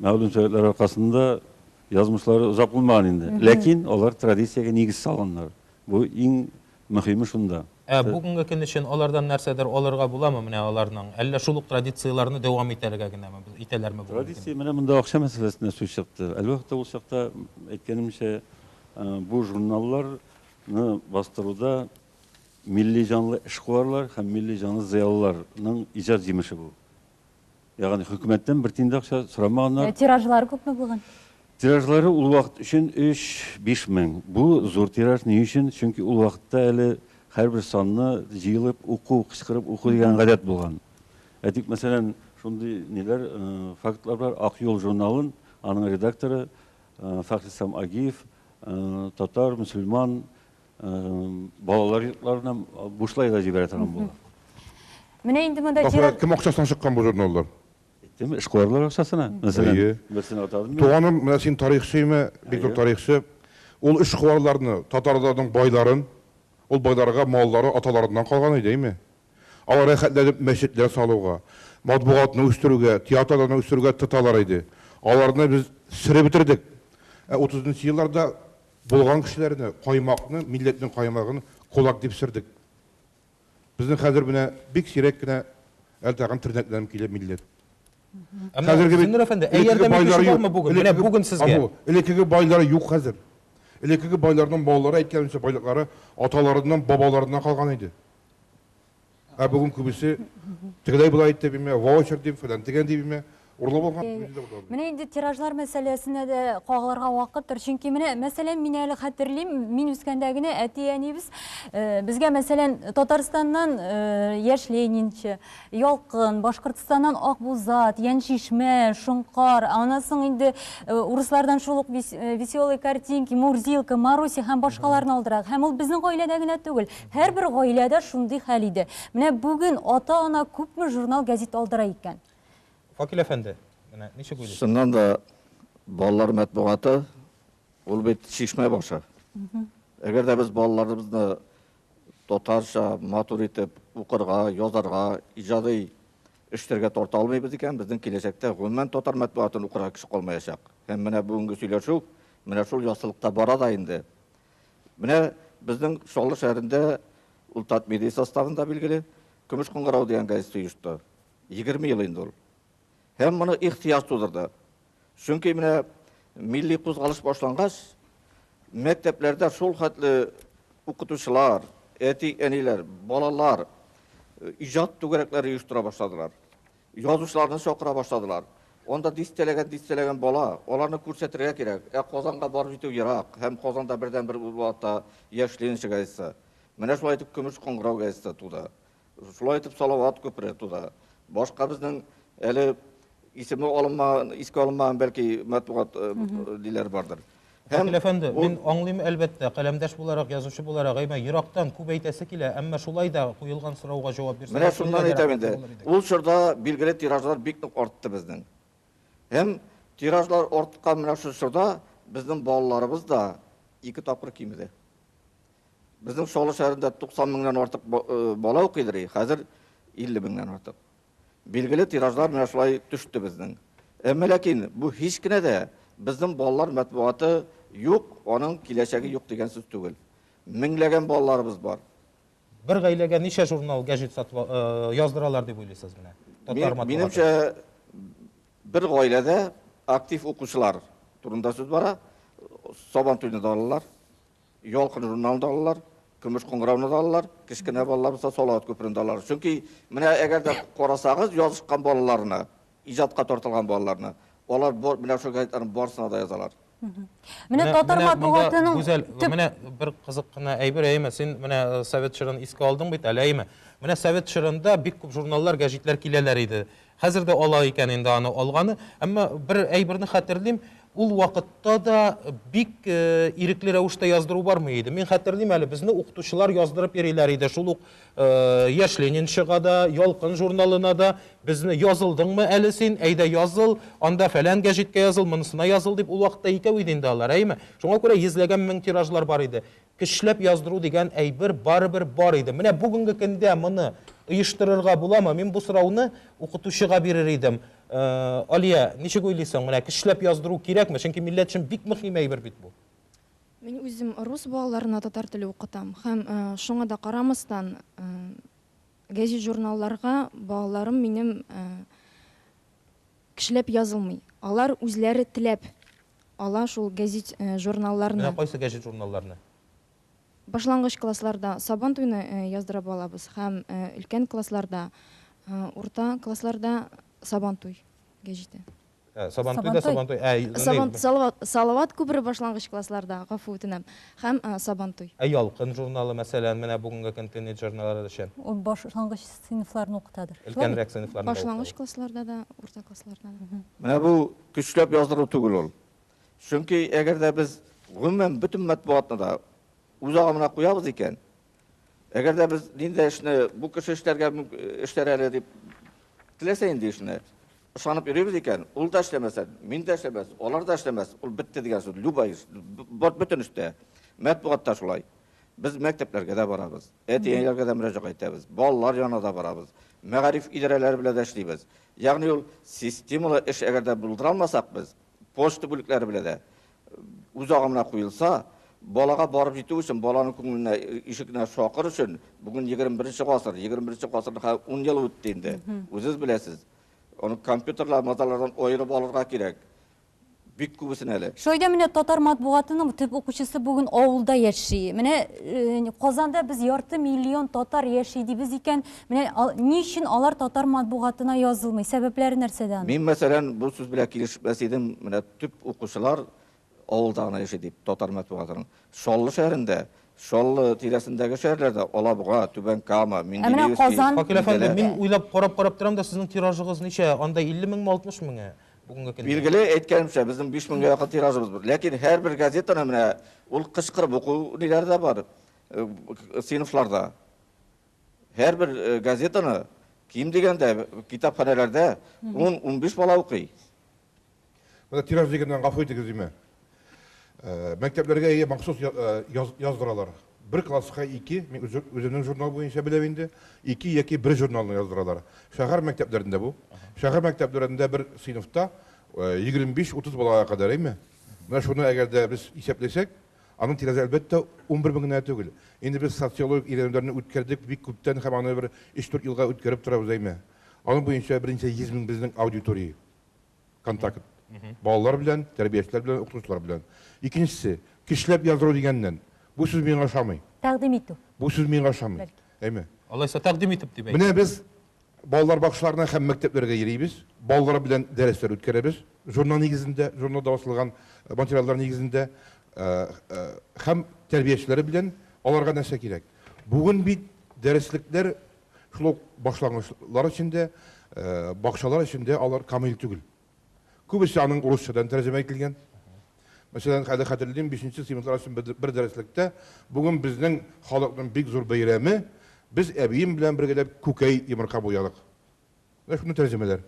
мәгълүм сәбәпләр аркасында язмышлары озак булмаган инде. Ләкин алар традициягә нигез салганнар. Бу иң Мөһиме шунда. Ә бүгенге көн өчен алардан нәрсәдер алырга буламы менә аларның? Әллә шул ук традицияләрне дәвам итәргә генәме, итәләрме бүгенге көндә? Традиция, менә монда акча мәсьәләсенә сүз чыкты. Әлбәттә, ул чакта, әйткәнемчә, бу журналларны бастыруда милли җанлы эшкуарлар һәм милли җанлы зыялыларның иҗат җимеше бу. Ягъни хөкүмәттән бер тиен дә акча сорамаганнар. Ә тиражлары күпме булган? Тиражлары ул вакыт өчен 3-5 мең. Бу зур тираж ни өчен? Чөнки ул вакытта әле һәрбер санны җыелып уку, кычкырып уку дигән гадәт булган. Ә тик, мәсәлән, шундый ниләр, фактлар бар, Ак юл журналын аның редакторы Фәхрислам Агиев татар, мөселман, Балалар йортларына бушлай да җибәрә торган була. Менә инде монда Ахуя, кем акчасына чыккан бу журналлар? Әйттем, эшкуарлар акчасына. Мәсәлән, Әйе. берсен атадым. мин. Туганым, менә син тарихчымы? Бик зур Әйе. тарихчы. Ул эшкуарларны, татарларның байларын, ул байларга маллары аталарыннан калган иде, әйме? Алар рәхәтләнеп мәчетләр салуга, матбугатны үстерүгә, театрларны үстерүгә тоталар иде. Аларны без сырып бетердек. Ә утызынчы елларда Булган кешеләрне, каймакны, милләтнең каймагын кулак дип сөрдек. Безнең хәзер менә бик сирәк кенә әле тагын тернәкләнеп килә милләт. Әмма, Зиннур әфәнде, ә ярдәм итүче бармы бүген? Менә бүген сезгә. Элеккеге байлар юк хәзер. Элеккеге байларның маллары, әйткәнемчә, байлыклары аталарыннан, бабаларыннан калган иде. Ә бүген күбесе тегеләй болай әйтте биме, ваучер дип, фәлән дигән дип биме. Урлап алган. Менә инде тиражлар мәсьәләсенә дә кагылырга вакыттыр. Чөнки менә мәсәлән, мин әле хәтерлим, мин үскәндә генә әти-әниебез безгә мәсәлән Татарстаннан Яшь Ленинчы, Ялкын, Башкортстаннан Акбузат, Яншишмә, Шонкар, аннан соң инде урыслардан шул ук Веселые картинки, Мурзилка, Маруся һәм башкаларны алдырак. Һәм ул безнең гаиләдә генә түгел, Һәрбер гаиләдә шундый хәл иде. Менә бүген ата-ана күпме журнал-гәзит алдыра икән? Факил әфәнде, менә ничек уйлыйсыз? Чыннан да, балалар мәтбугаты, ул бит чишмә башы. Әгәр дә без балаларыбызны татарча матур итеп укырга, язарга, иҗади эшләргә тарта алмыйбыз икән, безнең киләчәктә гомумән татар мәтбугатын укырга кеше калмаячак. Һәм менә бүгенге сөйләшү менә шул яссылыкта бара да инде. Менә безнең Чаллы шәһәрендә ул Татмедиа составында, билгеле, Көмеш кыңгырау дигән газета оешты. Егерме ел инде ул. Һәм моны ихтыяҗ тудырды. Чөнки менә милли кузгалыш башлангач, мәктәпләрдә шул хәтле укытучылар, әти-әниләр, балалар э, иҗат түгәрәкләре оештыра башладылар. Язучыларны чакыра башладылар. Анда дистәләгән-дистәләгән бала, аларны күрсәтергә кирәк. Ә Казанга барып җитү ерак, һәм Казанда бердәнбер ул вакытта Яшь Ленинчы газетасы. Менә шулай итеп Көмеш кыңгырау газетасы туды. Шулай итеп Салават күпере туды. Башка безнең әле исеме алынмаган, искә алынмаган, бәлки, матбугат диләре бардыр. Вәкил әфәнде, мин аңлыйм, әлбәттә, каләмдәш буларак, язучы буларак, әймә, ерактан күп әйтәсе килә, әмма шулай да куелган сорауга җавап бирсәгез, Менә шуннан әйтәм инде, ул чорда билгеле тиражлар бик нык артты безнең. Һәм тиражлар арткан менә шул чорда безнең балаларыбыз да ике тапкыр кимеде. Безнең Чаллы шәһәрендә 90 меңнән артык бала укыйдыр, хәзер 50 меңнән артык. Билгеле, тиражлар менә шулай төште безнең. Әмма ләкин бу һич кенә дә безнең балалар мәтбугаты юк, аның киләчәге юк дигән сүз түгел. Меңләгән балаларыбыз бар. Бер гаиләгә ничә журнал, гәҗит сатып яздыралар дип уйлыйсыз менә? Татар матбугаты. Минемчә, бер гаиләдә актив укучылар турында сүз бара. Сабантуйны да алалар. Ялкын журналын да алалар, Көмеш кыңгырауны да алалар, кечкенә балалар булса Салават күперен дә алалар. Чөнки менә әгәр дә карасагыз язышкан балаларны, иҗатка тартылган балаларны, алар бу менә шул газеталарның барысына да язалар. Менә татар матбугатының Гүзәл, менә бер кызык кына әйбер, әйеме, син менә э, совет чорын искә алдың бит әле, әйеме? Менә совет чорында бик күп журналлар, гәҗитләр киләләр иде. Хәзер дә ала икән инде аны алганы. Әмма бер әйберне хәтерлим, ул вакытта да бик ирекле рәвештә яздыру бармый иде. Мин хәтерлим әле, безне укытучылар яздырып йөриләр иде, шул ук Яшь ленинчыга да, Ялкын журналына да безне язылдыңмы әле син, әйдә языл, анда фәлән гәҗиткә языл, монысына языл дип, ул вакытта икәү иде инде алар, әйеме? Шуңа күрә йөзләгән мең тиражлар бар иде. Көчләп яздыру дигән әйбер барыбер бар иде. Менә бүгенге көндә моны оештырырга буламы? Мин бу сорауны укытучыга бирер идем. Алия, ничек уйлыйсың, менә көчләп яздыру кирәкме? Чөнки милләт өчен бик мөһим әйбер бит бу. Мин үзем рус балаларына татар теле укытам һәм шуңа да карамастан, гәҗит-журналларга балаларым минем Кешеләп язылмый. Алар үзләре теләп ала шул гәзит, журналларны. Менә кайсы гәҗит журналларны? Башлангыч классларда Сабан туйны яздырып алабыз һәм өлкән классларда, урта классларда Сабан туй гәҗите. Ә, Сабан туй да Сабан туй. Сабан Салават, Салават күбре башлангыч классларда, гафу үтенәм, һәм Сабан туй. Ә Ялкын журналы, мәсәлән, менә бүгенге көн тинейджернлар өчен. Ул башлангыч Сыйныфларны укытадыр. Өлкәнрәк сыйныфларны да укыта. Башлангыч классларда да, урта классларда да. Менә бу көчләп яздыру түгел ул. Чөнки әгәр дә без гомумән бөтен матбугатны да үз агымына куябыз икән, әгәр дә без нинди эшне бу кеше эшләргә эшләр әле дип теләсә нинди эшне ышанып йөрибез икән, ул да эшләмәсә, мин дә эшләмәс, алар да эшләмәс, ул бетте дигән сүз. Любой эш, бөтен эштә, матбугатта шулай. Без мәктәпләргә дә барабыз. әти-әниләргә дә мөрәҗәгать итәбез, балалар янына да барабыз, мәгариф идарәләре белән дә эшлибез. Ягъни ул системалы эш әгәр дә булдыра алмасак без, почта бүлекләре белән дә үз агымына куелса, балага барып җитү өчен, баланың күңеленә, ишегенә шакыр өчен, бүген 21 гасыр, 21 гасырның хә 10 елы үтте инде, үзегез беләсез. Аны компьютерлар, мазалардан аерып алырга кирәк. Бик күбесен әле. Шулай да менә татар матбугатының төп укучысы бүген авылда яши. Менә Казанда без ярты миллион татар яши дибез икән, менә ни өчен алар татар матбугатына язылмый? Сәбәпләре нәрсәдә аның? Мин, мәсәлән, бу сүз белән килешмәс идем, менә төп укучылар авылда гына яши дип, татар матбугатының. Чаллы шәһәрендә, Чаллы тирәсендәге шәһәрләрдә, Алабуга, Түбән Кама, Менделеевский. Шакил әфәнде, мин уйлап карап-карап торам да, сезнең тиражыгыз ничә? Анда 50 меңме, 60 меңе? бүгенге көндә. Билгеле, әйткәнемчә, безнең 5000 якын тиражыбыз бар. Ләкин һәрбер газетаны менә ул кычкырып уку ниләре дә бар, сыйныфларда. Һәрбер газетаны ким дигәндә китапханәләрдә 10-15 бала укый. Менә тираж дигәннән гафу итегез, димә. Мәктәпләргә әйе махсус яздыралар. Бер класска ике, мин үземнең журнал буенча беләм инде, ике яки бер журналны яздыралар. Шәһәр мәктәпләрендә бу. Шәһәр мәктәпләрендә бер сыйныфта 25-30 балага кадәр, әйме? Менә шуны әгәр дә без исәпләсәк, аның тирәсе әлбәттә унбер мең генә түгел. Инде без социологик өйрәнүләрне үткәрдек бик күптән һәм аны бер өч-дүрт елга үткәреп торабыз, әйме? Аның буенча берничә йөз мең безнең аудитория. контакт. Балалар белән, тәрбиячеләр белән, укытучылар белән. Икенчесе, көчләп яздыру дигәннән, бу сүз миңа ошамый. Тәкъдим итү. Бу сүз миңа ошамый. Бәлки. Әйме? Алайса, тәкъдим итеп дип әйт. Менә без балалар бакчаларына һәм мәктәпләргә йөрибез, балалар белән дәресләр үткәрәбез, журнал нигезендә, журналда басылган материаллар нигезендә һәм тәрбиячеләре белән аларга нәрсә кирәк? Бүген бит дәреслекләр Шул ук башлангычлар өчен дә, бакчалар өчен дә алар камил түгел. Күбесе аның урысчадан тәрҗемә ителгән. Мәсәлән, әле хәтерлим, бишенче сыйныфлар өчен бер дәреслектә, Бүген безнең халыкның бик зур бәйрәме, без әбием белән бергәләп күкәй йомырка буядык. Рәхмәтле тәрҗемәләр.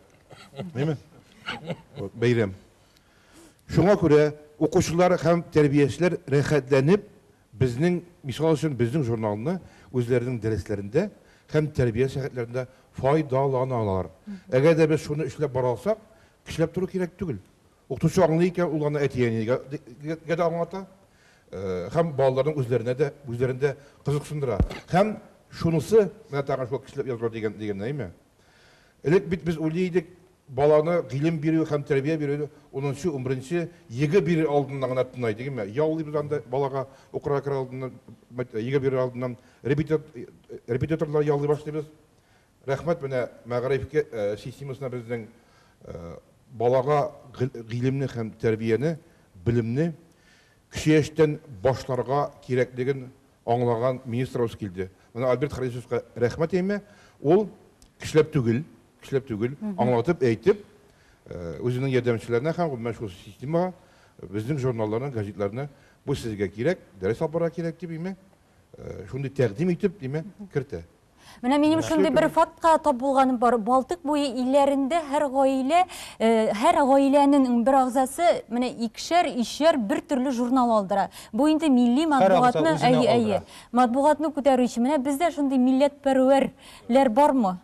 Әйме? Бәйрәм. Шуңа күрә укучылар һәм тәрбиячеләр рәхәтләнеп безнең, мисал өчен, безнең журналны үзләренең дәресләрендә һәм тәрбия сәгатьләрендә файдаланалар. Әгәр дә без шуны эшләп бара алсак, кешеләп тору кирәк түгел. Укытучы аңлый икән, ул аны әти-әнигә дә аңлата һәм балаларның үзләренә дә, үзләрен дә кызыксындыра. Һәм шунысы, менә тагын шул кешеләп язылу дигән, дигәннәр, әйме? Элек бит без уйлый идек, баланы гыйлем бирү һәм тәрбия бирү унынчы, унберенче егэ бирер алдыннан гына тынлай, дигәнме? Яллыйбыз анда балага укырга керер алдыннан, егэ бирер алдыннан репетиторлар яллый башлыйбыз. Рәхмәт менә мәгариф системасына безнең балага гыйлемне һәм тәрбияне, белемне кече яшьтән башларга кирәклеген аңлаган министрыбыз килде. Менә Альберт Харисовка рәхмәт әймә, ул кешеләп түгел, кешеләп түгел, аңлатып, әйтеп, үзенең ярдәмчеләренә һәм гомумән шул системага безнең журналларны, газетларны бу сезгә кирәк, дәрес алып барырга кирәк дип әймә, э, шундый тәкъдим итеп, димәк, кертә. Менә минем шундый бер фактка тап булганым бар. Балтык буе илләрендә һәр гаилә, э, һәр гаиләнең бер агзасы менә икшәр, ишәр бер төрле журнал алдыра. Бу инде милли матбугатны, әйе, әйе. Матбугатны күтәрү өчен менә бездә шундый милләтпәрвәрләр бармы?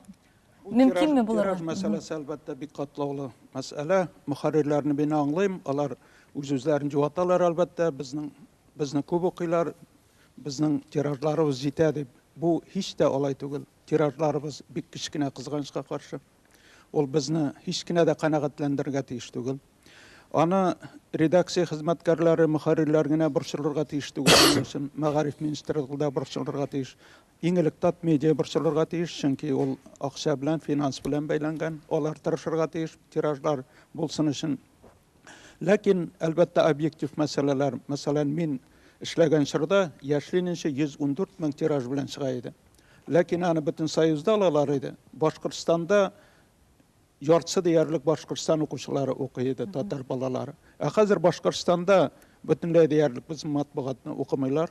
Мөмкинме булыр? Тираж мәсьәләсе әлбәттә бик катлаулы мәсьәлә. Мөхәррирләрне мин аңлыйм, алар үз-үзләрен җуаталар әлбәттә, безнең Безне күп укыйлар, безнең тиражларыбыз җитә дип. Бу һич тә алай түгел. Тиражларыбыз бик кечкенә, кызганычка каршы. Ул безне һич кенә дә канәгатьләндерергә тиеш түгел. Аны редакция хезмәткәрләре, мөхәррирләр генә борчылырга тиеш түгел моның өчен. Мәгариф министрлыгы да борчылырга тиеш. Иң элек Татмедиа борчылырга тиеш, чөнки ул акча белән, финанс белән бәйләнгән. Алар тырышырга тиеш тиражлар булсын өчен. Ләкин, әлбәттә, объектив мәсьәләләр, мәсәлән, мин эшләгән чорда Яшьле нче 114 мең тираж белән чыга иде. Ләкин аны бөтен Союзда алалар иде. Башкортстанда яртысы диярлек Башкортстан укучылары укый иде, татар балалары. Ә хәзер Башкортстанда бөтенләй диярлек безнең матбугатны укымыйлар.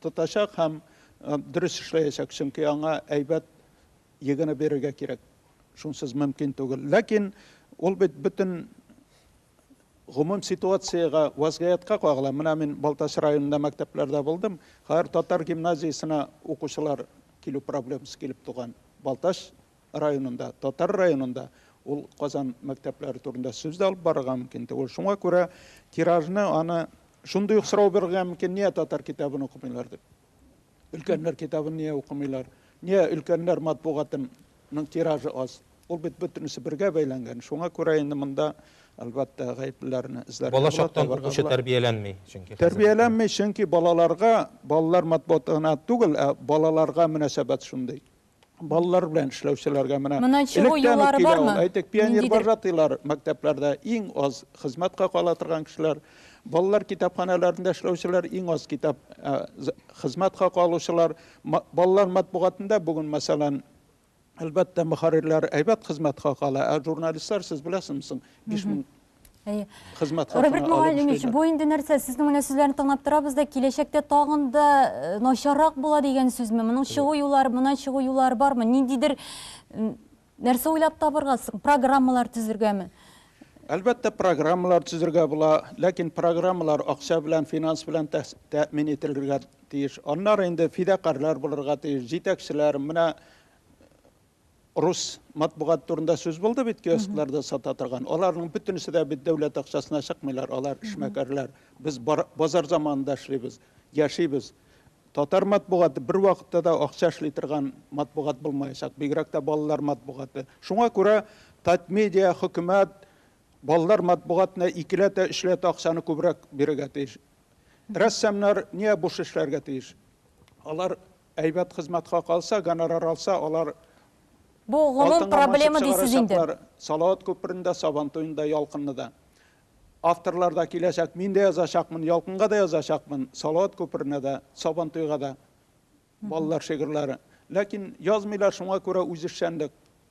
Тотачак һәм дөрес эшләячәк, чөнки аңа әйбәт егене бирергә кирәк. Шунсыз мөмкин түгел. Ләкин ул бит бөтен гомум ситуациягә, вазгыятькә кагыла. Менә мин Балтач районында мәктәпләрдә булдым. Хәзер татар гимназиясенә укучылар килү проблемасы килеп туган. Балтач районында, татар районында ул Казан мәктәпләре турында сүз дә алып барырга мөмкин түгел. Шуңа күрә тиражны аны шундый ук сорау бирергә мөмкин, ния татар китабын укымыйлар дип. Өлкәннәр китабын ния укымыйлар? Ния өлкәннәр матбугатының тиражы аз? Ул бит бөтенесе бергә бәйләнгән. Шуңа күрә инде монда, әлбәттә, гаеплеләрне эзләргә була, табарга була. Бала чактан укучы тәрбияләнми, чөнки хәзер. Тәрбияләнми, чөнки балаларга, балалар матбугатына түгел, ә балаларга мөнәсәбәт шундый. Балалар белән эшләүчеләргә менә Моннан чыгу электән юллары үк килә бармы? ул. Әйтик, пионер Ниндидер- вожатыйлар мәктәпләрдә иң аз хезмәткә кала торган кешеләр. Балалар китапханәләрендә эшләүчеләр иң аз китап ә, з- хезмәткә калучылар. Ма- Балалар матбугатында бүген, мәсәлән, Әлбәттә, мөхәррирләр әйбәт хезмәткә кала, ә журналистлар, сез беләсезме соң, биш мең Әйе. Хезмәт хакына Роберт Мугалимович, бу инде нәрсә? Сезнең менә сүзләрне тыңлап торабыз да, киләчәктә тагын да э, начаррак була дигән сүзме? Моның чыгу юллары, монан чыгу юллары бармы? Ниндидер нәрсә уйлап табырга, программалар төзергәме? Әлбәттә, программалар төзергә була, ләкин программалар акча белән, финанс белән тәэмин ителергә тиеш. Аннары инде фидакарлар булырга тиеш, җитәкчеләр, менә Рус матбугаты турында сүз булды бит, киоскларда сата торган. Аларның бөтенесе дә бит дәүләт акчасына чыкмыйлар, алар эшмәкәрләр. Без базар заманында эшлибез, яшибез. Татар матбугаты бер вакытта да акча эшли торган матбугат булмаячак, бигрәк тә балалар матбугаты. Шуңа күрә Татмедиа, хөкүмәт балалар матбугатына икеләтә, өчләтә акчаны күбрәк бирергә тиеш. Рәссамнар нигә буш эшләргә тиеш? Алар Әйбәт хезмәтка калса, гонорар алса, алар Бу гомум алтынга манчып проблема дисез инде. чыгарачаклар. Салават күперен дә, Сабан туен да, Ялкынны да. Авторлар да киләчәк. Мин дә язачакмын, Ялкынга да язачакмын, Салават күперенә дә, Сабан туйга да. Балалар шигырьләре. Ләкин язмыйлар, шуңа күрә үзешчәнлек.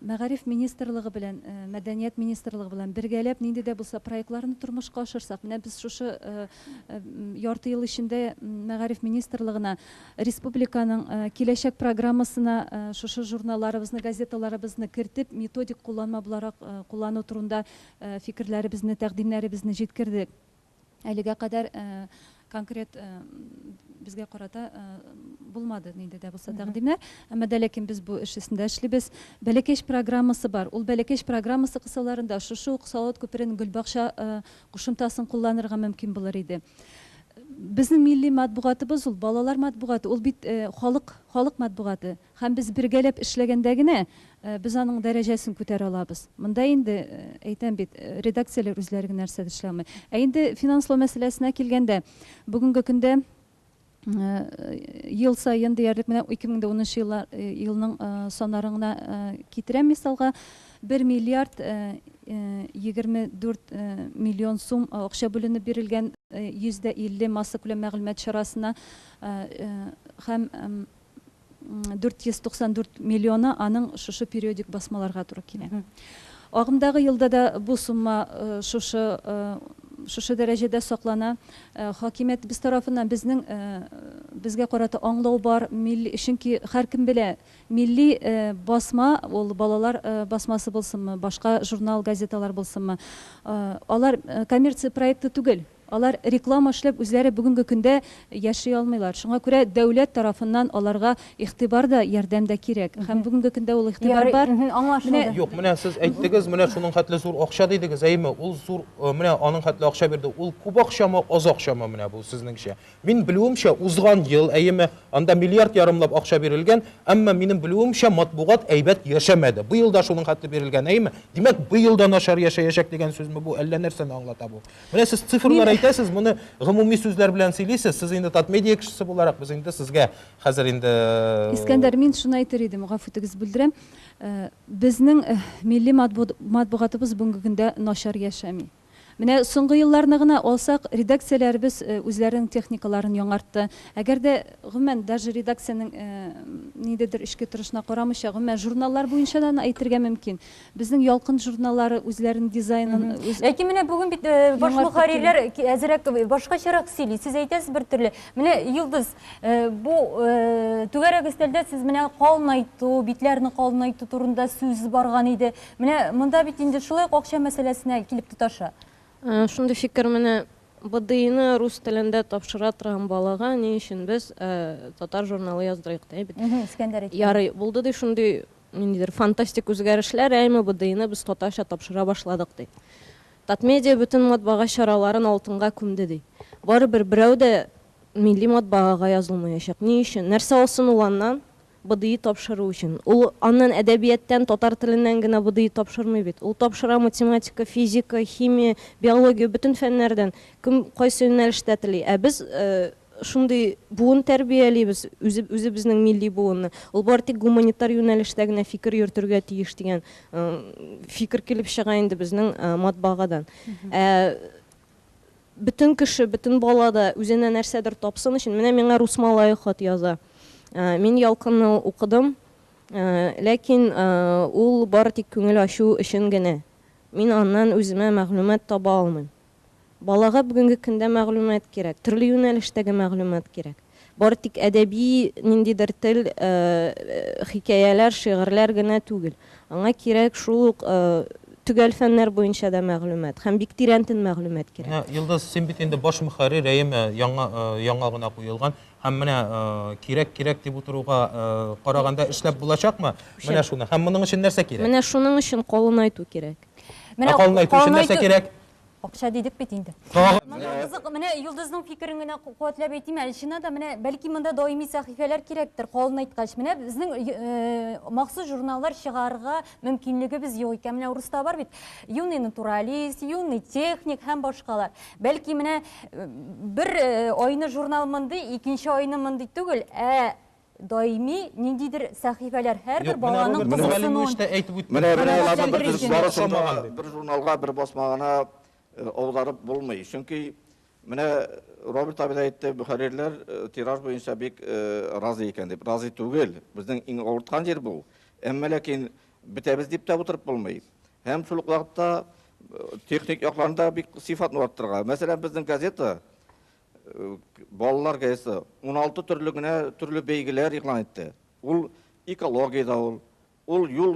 Мәгариф министрлыгы белән, мәдәният министрлыгы белән бергәләп нинди дә булса проектларны тормышка ашырсак, менә без шушы ярты ел эчендә мәгариф министрлыгына республиканың киләчәк программасына шушы журналларыбызны, газеталарыбызны кертеп, методик кулланма буларак куллану турында фикерләребезне, тәкъдимнәребезне җиткердек. Әлегә кадәр конкрет безгә карата булмады нинди дә булса тәкъдимнәр. Әмма дә ләкин без бу эш өстендә эшлибез. Бәләкәч программасы бар. Ул бәләкәч программасы кысаларында шушы ук Салават күперенең Гөлбакча кушымтасын кулланырга мөмкин булыр иде. Безнең милли матбугатыбыз ул, балалар матбугаты, ул бит халык, халык матбугаты. Һәм без бергәләп эшләгәндә генә без аның дәрәҗәсен күтәрә алабыз. Монда инде, әйтәм бит, редакцияләр үзләре генә нәрсә дә эшли алмый. Ә инде финанслау мәсьәләсенә килгәндә, бүгенге көндә ел саен диярлек менә 2010 елла елның саннарын гына китерәм мисалга, бер миллиард егерме дүрт миллион сум акча бүленеп бирелгән 150 массакүләм мәгълүмат чарасына һәм 494 миллионы аның шушы периодик басмаларга туры килә. Агымдагы елда да бу сумма шушы шушы дәрәҗәдә саклана. Хакимиятебез тарафыннан безнең безгә карата аңлау бар, милли, чөнки һәркем белә, милли басма ул балалар басмасы булсынмы, башка журнал, газеталар булсынмы, алар коммерция проекты түгел. Алар реклама эшләп үзләре бүгенге көндә яши алмыйлар. Шуңа күрә дәүләт тарафыннан аларга игътибар да, ярдәм дә кирәк. Һәм бүгенге көндә ул игътибар бар. Ярый, мһм, аңлашылды. Юк, менә сез әйттегез, менә шуның хәтле зур акча дидегез, әйеме? Ул зур, менә аның хәтле акча бирде. Ул күп акчамы, аз акчамы менә бу, сезнеңчә? Мин белүемчә, узган ел, әйеме, анда миллиард ярымлап акча бирелгән, әмма минем белүемчә, матбугат әйбәт яшәмәде. Быел да шуның хәтле бирелгән, әйеме? Димәк, быел да начар яшәячәк дигән сүзме бу, әллә нәрсәне аңлата бу? Менә сез цифрлар әйтәсез, моны гомуми сүзләр белән сөйлисез. Сез инде Татмедиа кешесе буларак, без инде сезгә хәзер инде э, Искәндәр, мин шуны әйтер идем, гафу итегез, бүлдерәм. Э, безнең э, милли матбугатыбыз бүгенге көндә начар яшәми. Менә соңгы елларны гына алсак, редакцияләребез үзләренең техникаларын яңартты. Әгәр дә гомумән даже редакциянең ниндидер эчке торышына карамыйча, гомумән журналлар буенча да әйтергә мөмкин. Безнең Ялкын журналлары үзләренең дизайнын үз Ләкин менә бүген бит баш мөхәррирләр әзерәк башкачарак сөйли. Сез әйтәсез бер төрле. Менә Йолдыз, бу түгәрәк өстәлдә сез менә калынайту, битләрне калынайту турында сүз барган иде. Менә монда бит инде шулай ук акча мәсьәләсенә килеп тоташа. Шундый фикер менә БДИны рус телендә тапшыра торган балага ни өчен без татар журналы яздырыйк ди бит. Ярый, булды ди шундый Ниндидер фантастик үзгәрешләр яимы БДИны без татарча тапшыра башладык ди. Татмедиа бөтен матбага чараларын алтынга күмде ди. Барыбер берәү дә милли матбагага язылмаячак. Ни өчен? Нәрсә алсын ул аннан? БДИ тапшыру өчен. Ул аннан әдәбияттән, татар теленнән генә БДИ тапшырмый бит. Ул тапшыра математика, физика, химия, биология, бөтен фәннәрдән, кем кайсы юнәлештә тели. Ә без шундый буын тәрбиялибез, үзе, үзебезнең милли буынны. Ул бары тик гуманитар юнәлештә генә фикер йөртергә тиеш дигән фикер килеп чыга инде безнең матбагадан. Ә бөтен кеше, бөтен бала да үзенә нәрсәдер тапсын өчен, менә миңа рус малае хат яза. Мин ялкынны укыдым, ләкин ул бары тик күңел ачу өчен генә. Мин аннан үземә мәгълүмат таба алмыйм. Балага бүгенге көндә мәгълүмат кирәк, төрле юнәлештәге мәгълүмат кирәк. Бары тик әдәби ниндидер тел, хикәяләр, шигырьләр генә түгел. Аңа кирәк шул ук төгәл фәннәр буенча да мәгълүмат һәм бик тирәнтен мәгълүмат кирәк. Менә, Йолдыз, син бит инде баш мөхәррир, әйеме, яңа, яңа гына куелган. Һәм менә кирәк, кирәк дип утыруга караганда эшләп булачакмы? Менә шуны. Һәм моның өчен нәрсә кирәк? Менә шуның өчен калынайту кирәк. Менә калын әйтү өчен нәрсә кирәк? Акча дидек бит инде. Менә Йолдызның фикерен генә куәтләп әйтим, Әлшина да менә бәлки монда даими сәхифәләр кирәктер, калын әйткәч. Менә безнең э, махсус журналлар чыгарырга мөмкинлегебез юк икән. Менә урыста бар бит, юный натуралист, юный техник һәм башкалар. Бәлки менә э, бер э, айны журнал мондый, икенче айны мондый түгел, ә Даими ниндидер сәхифәләр һәрбер баланың кызыксынуын. Менә менә аларның барысын да бер журналга, бер басма гына аударып булмый. Чөнки менә Роберт абый да әйтте, мөхәррирләр тираж буенча бик разый икән дип. Разый түгел. Безнең иң авырткан җир бу. Әмма ләкин бетәбез дип тә утырып булмый. Һәм шул ук вакытта техник якларны да бик сыйфатны арттырырга. Мәсәлән, безнең газета Балалар газетасы уналты төрле генә төрле бәйгеләр игълан итте. Ул экологиядә ул, ул юл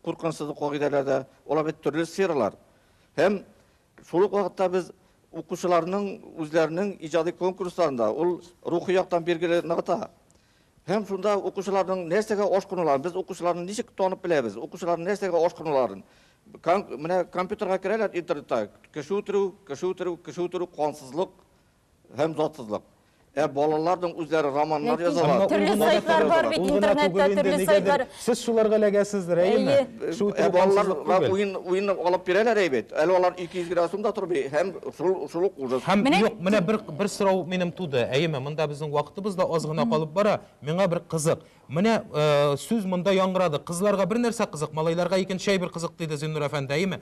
куркынычсызлык кагыйдәләрдә, алар бит төрле сфералар. Һәм шул ук вакытта без укучыларның үзләренең иҗади конкурсларында ул рухи яктан билгеле ныгыта. Һәм шунда укучыларның нәрсәгә ашкынуларын, без укучыларны ничек танып беләбез, укучыларның нәрсәгә ашкынуларын. Кан, менә компьютерга керәләр интернетта, кеше үтерү, кеше үтерү, кеше үтерү, кансызлык һәм затсызлык. Ә балаларның үзләре романнар Ләкин язалар. Әмма ул төрле гына да сайтлар түгел, бар бит ул гына интернетта, түгел инде, төрле нигәдер сайтлар. Сез шуларга эләгәсез, Рәима. Әйе. Шул Ә балалар куркансызлык түгел. уен уен алып бирәләр әй бит. Әле алар 200 градусым да тор би һәм шул шул ук ужас. Һәм Менә юк, менә бер бер сорау минем туды. Әйеме, монда безнең вакытыбыз да аз гына калып бара. Миңа бер кызык. Менә э, сүз монда яңгырады. Кызларга бер нәрсә кызык, малайларга икенче әйбер кызык, диде Зиннур әфәнде, әйеме?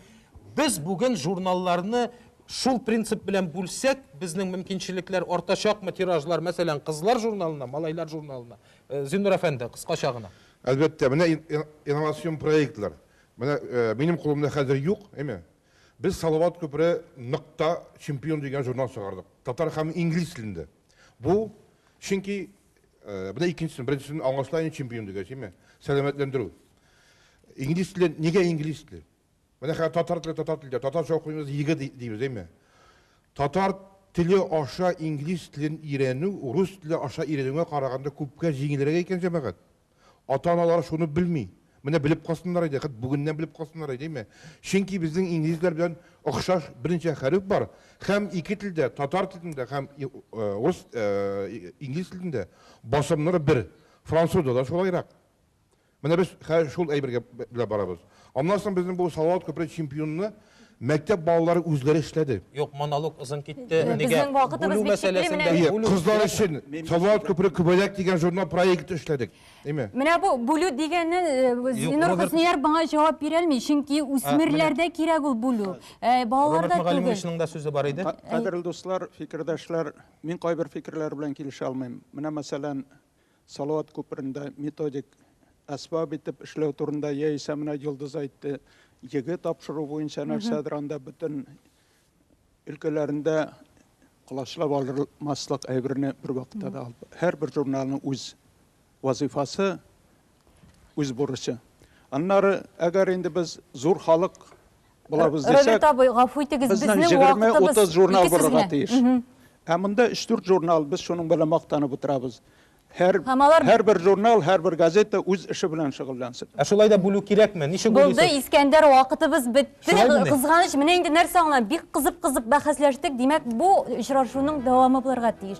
Без бүген журналларны шул принцип белән бүлсәк, безнең мөмкинчелекләр артачакмы тиражлар, мәсәлән, кызлар журналына, малайлар журналына? Зиннур әфәнде, кыскача гына. Әлбәттә, менә инновацион проектлар. Менә минем кулымда хәзер юк, әйме? Без Салават күпере нокта чемпион дигән журнал чыгардык. Татар һәм инглиз телендә. Бу, чөнки, менә икенчесен, беренчесен аңлашыла инде чемпион дигәч, әйме? Сәламәтләндерү. Инглиз теле, нигә инглиз теле? Менә хәзер татар теле, татар теле, татарча укыйбыз, егэ дибез, әйме? Татар теле аша инглиз телен өйрәнү рус теле аша өйрәнүгә караганда күпкә җиңелрәк икән, җәмәгать. Ата-аналар шуны белми. Менә белеп калсыннар иде, хәт бүгеннән белеп калсыннар иде, әйме? Чөнки безнең инглизләр белән охшаш берничә хәреф бар, һәм ике телдә, татар телендә һәм рус, инглиз телендә басымнар бер. Французда да шулайрак. Менә без хәзер шул әйбергә белән барабыз. Аннан соң безнең бу Салават күпере чемпионны мәктәп балалары үзләре эшләде. Юк, монолог озын китте. Нигә? Безнең вакытыбыз Бүлү бик чикле, мәсьәләсен менә дә бит. Әйе, бүлү кызлар кирәкме? өчен Мин Салават шуны- күпере күбәләк дигән журнал проекты эшләдек. Әйме? Менә бу бүлү дигәннән э, Юк, Зинур Роберт- Хөснияров моңа җавап бирә алмый, чөнки үсмерләрдә кирәк ул бүлү. Э, Балаларда Роберт түгел. Мөгаллимовичның да сүзе бар иде. Ка- Кадерле дуслар, фикердәшләр, мин кайбер фикерләр белән килешә алмыйм. Менә мәсәлән, Салават күперендә методик әсбап итеп эшләү турында яисә менә Йолдыз әйтте, егэ тапшыру буенча нәрсәдер анда бөтен өлкәләрендә колачлап алырмаслык әйберне бервакытта да алып. Һәрбер журналның үз вазыйфасы, Үз бурычы. Аннары, әгәр инде без зур халык булабыз дисәк... Роберт абый, гафу итегез, безнең вакытыбыз... Безнең 20-30 журнал булырга тиеш. Ә монда 3-4 журнал, без шуның белән мактанып утырабыз. Һәрбер журнал, һәрбер газета үз эше белән шөгыльләнсен. Ә шулай да бүлү кирәкме? Ничек бүлисез? Булды, Искәндәр, вакытыбыз бетте. Кызганыч, менә инде нәрсә аңлам, бик кызып-кызып бәхәсләштек. Димәк, бу очрашуның дәвамы булырга тиеш.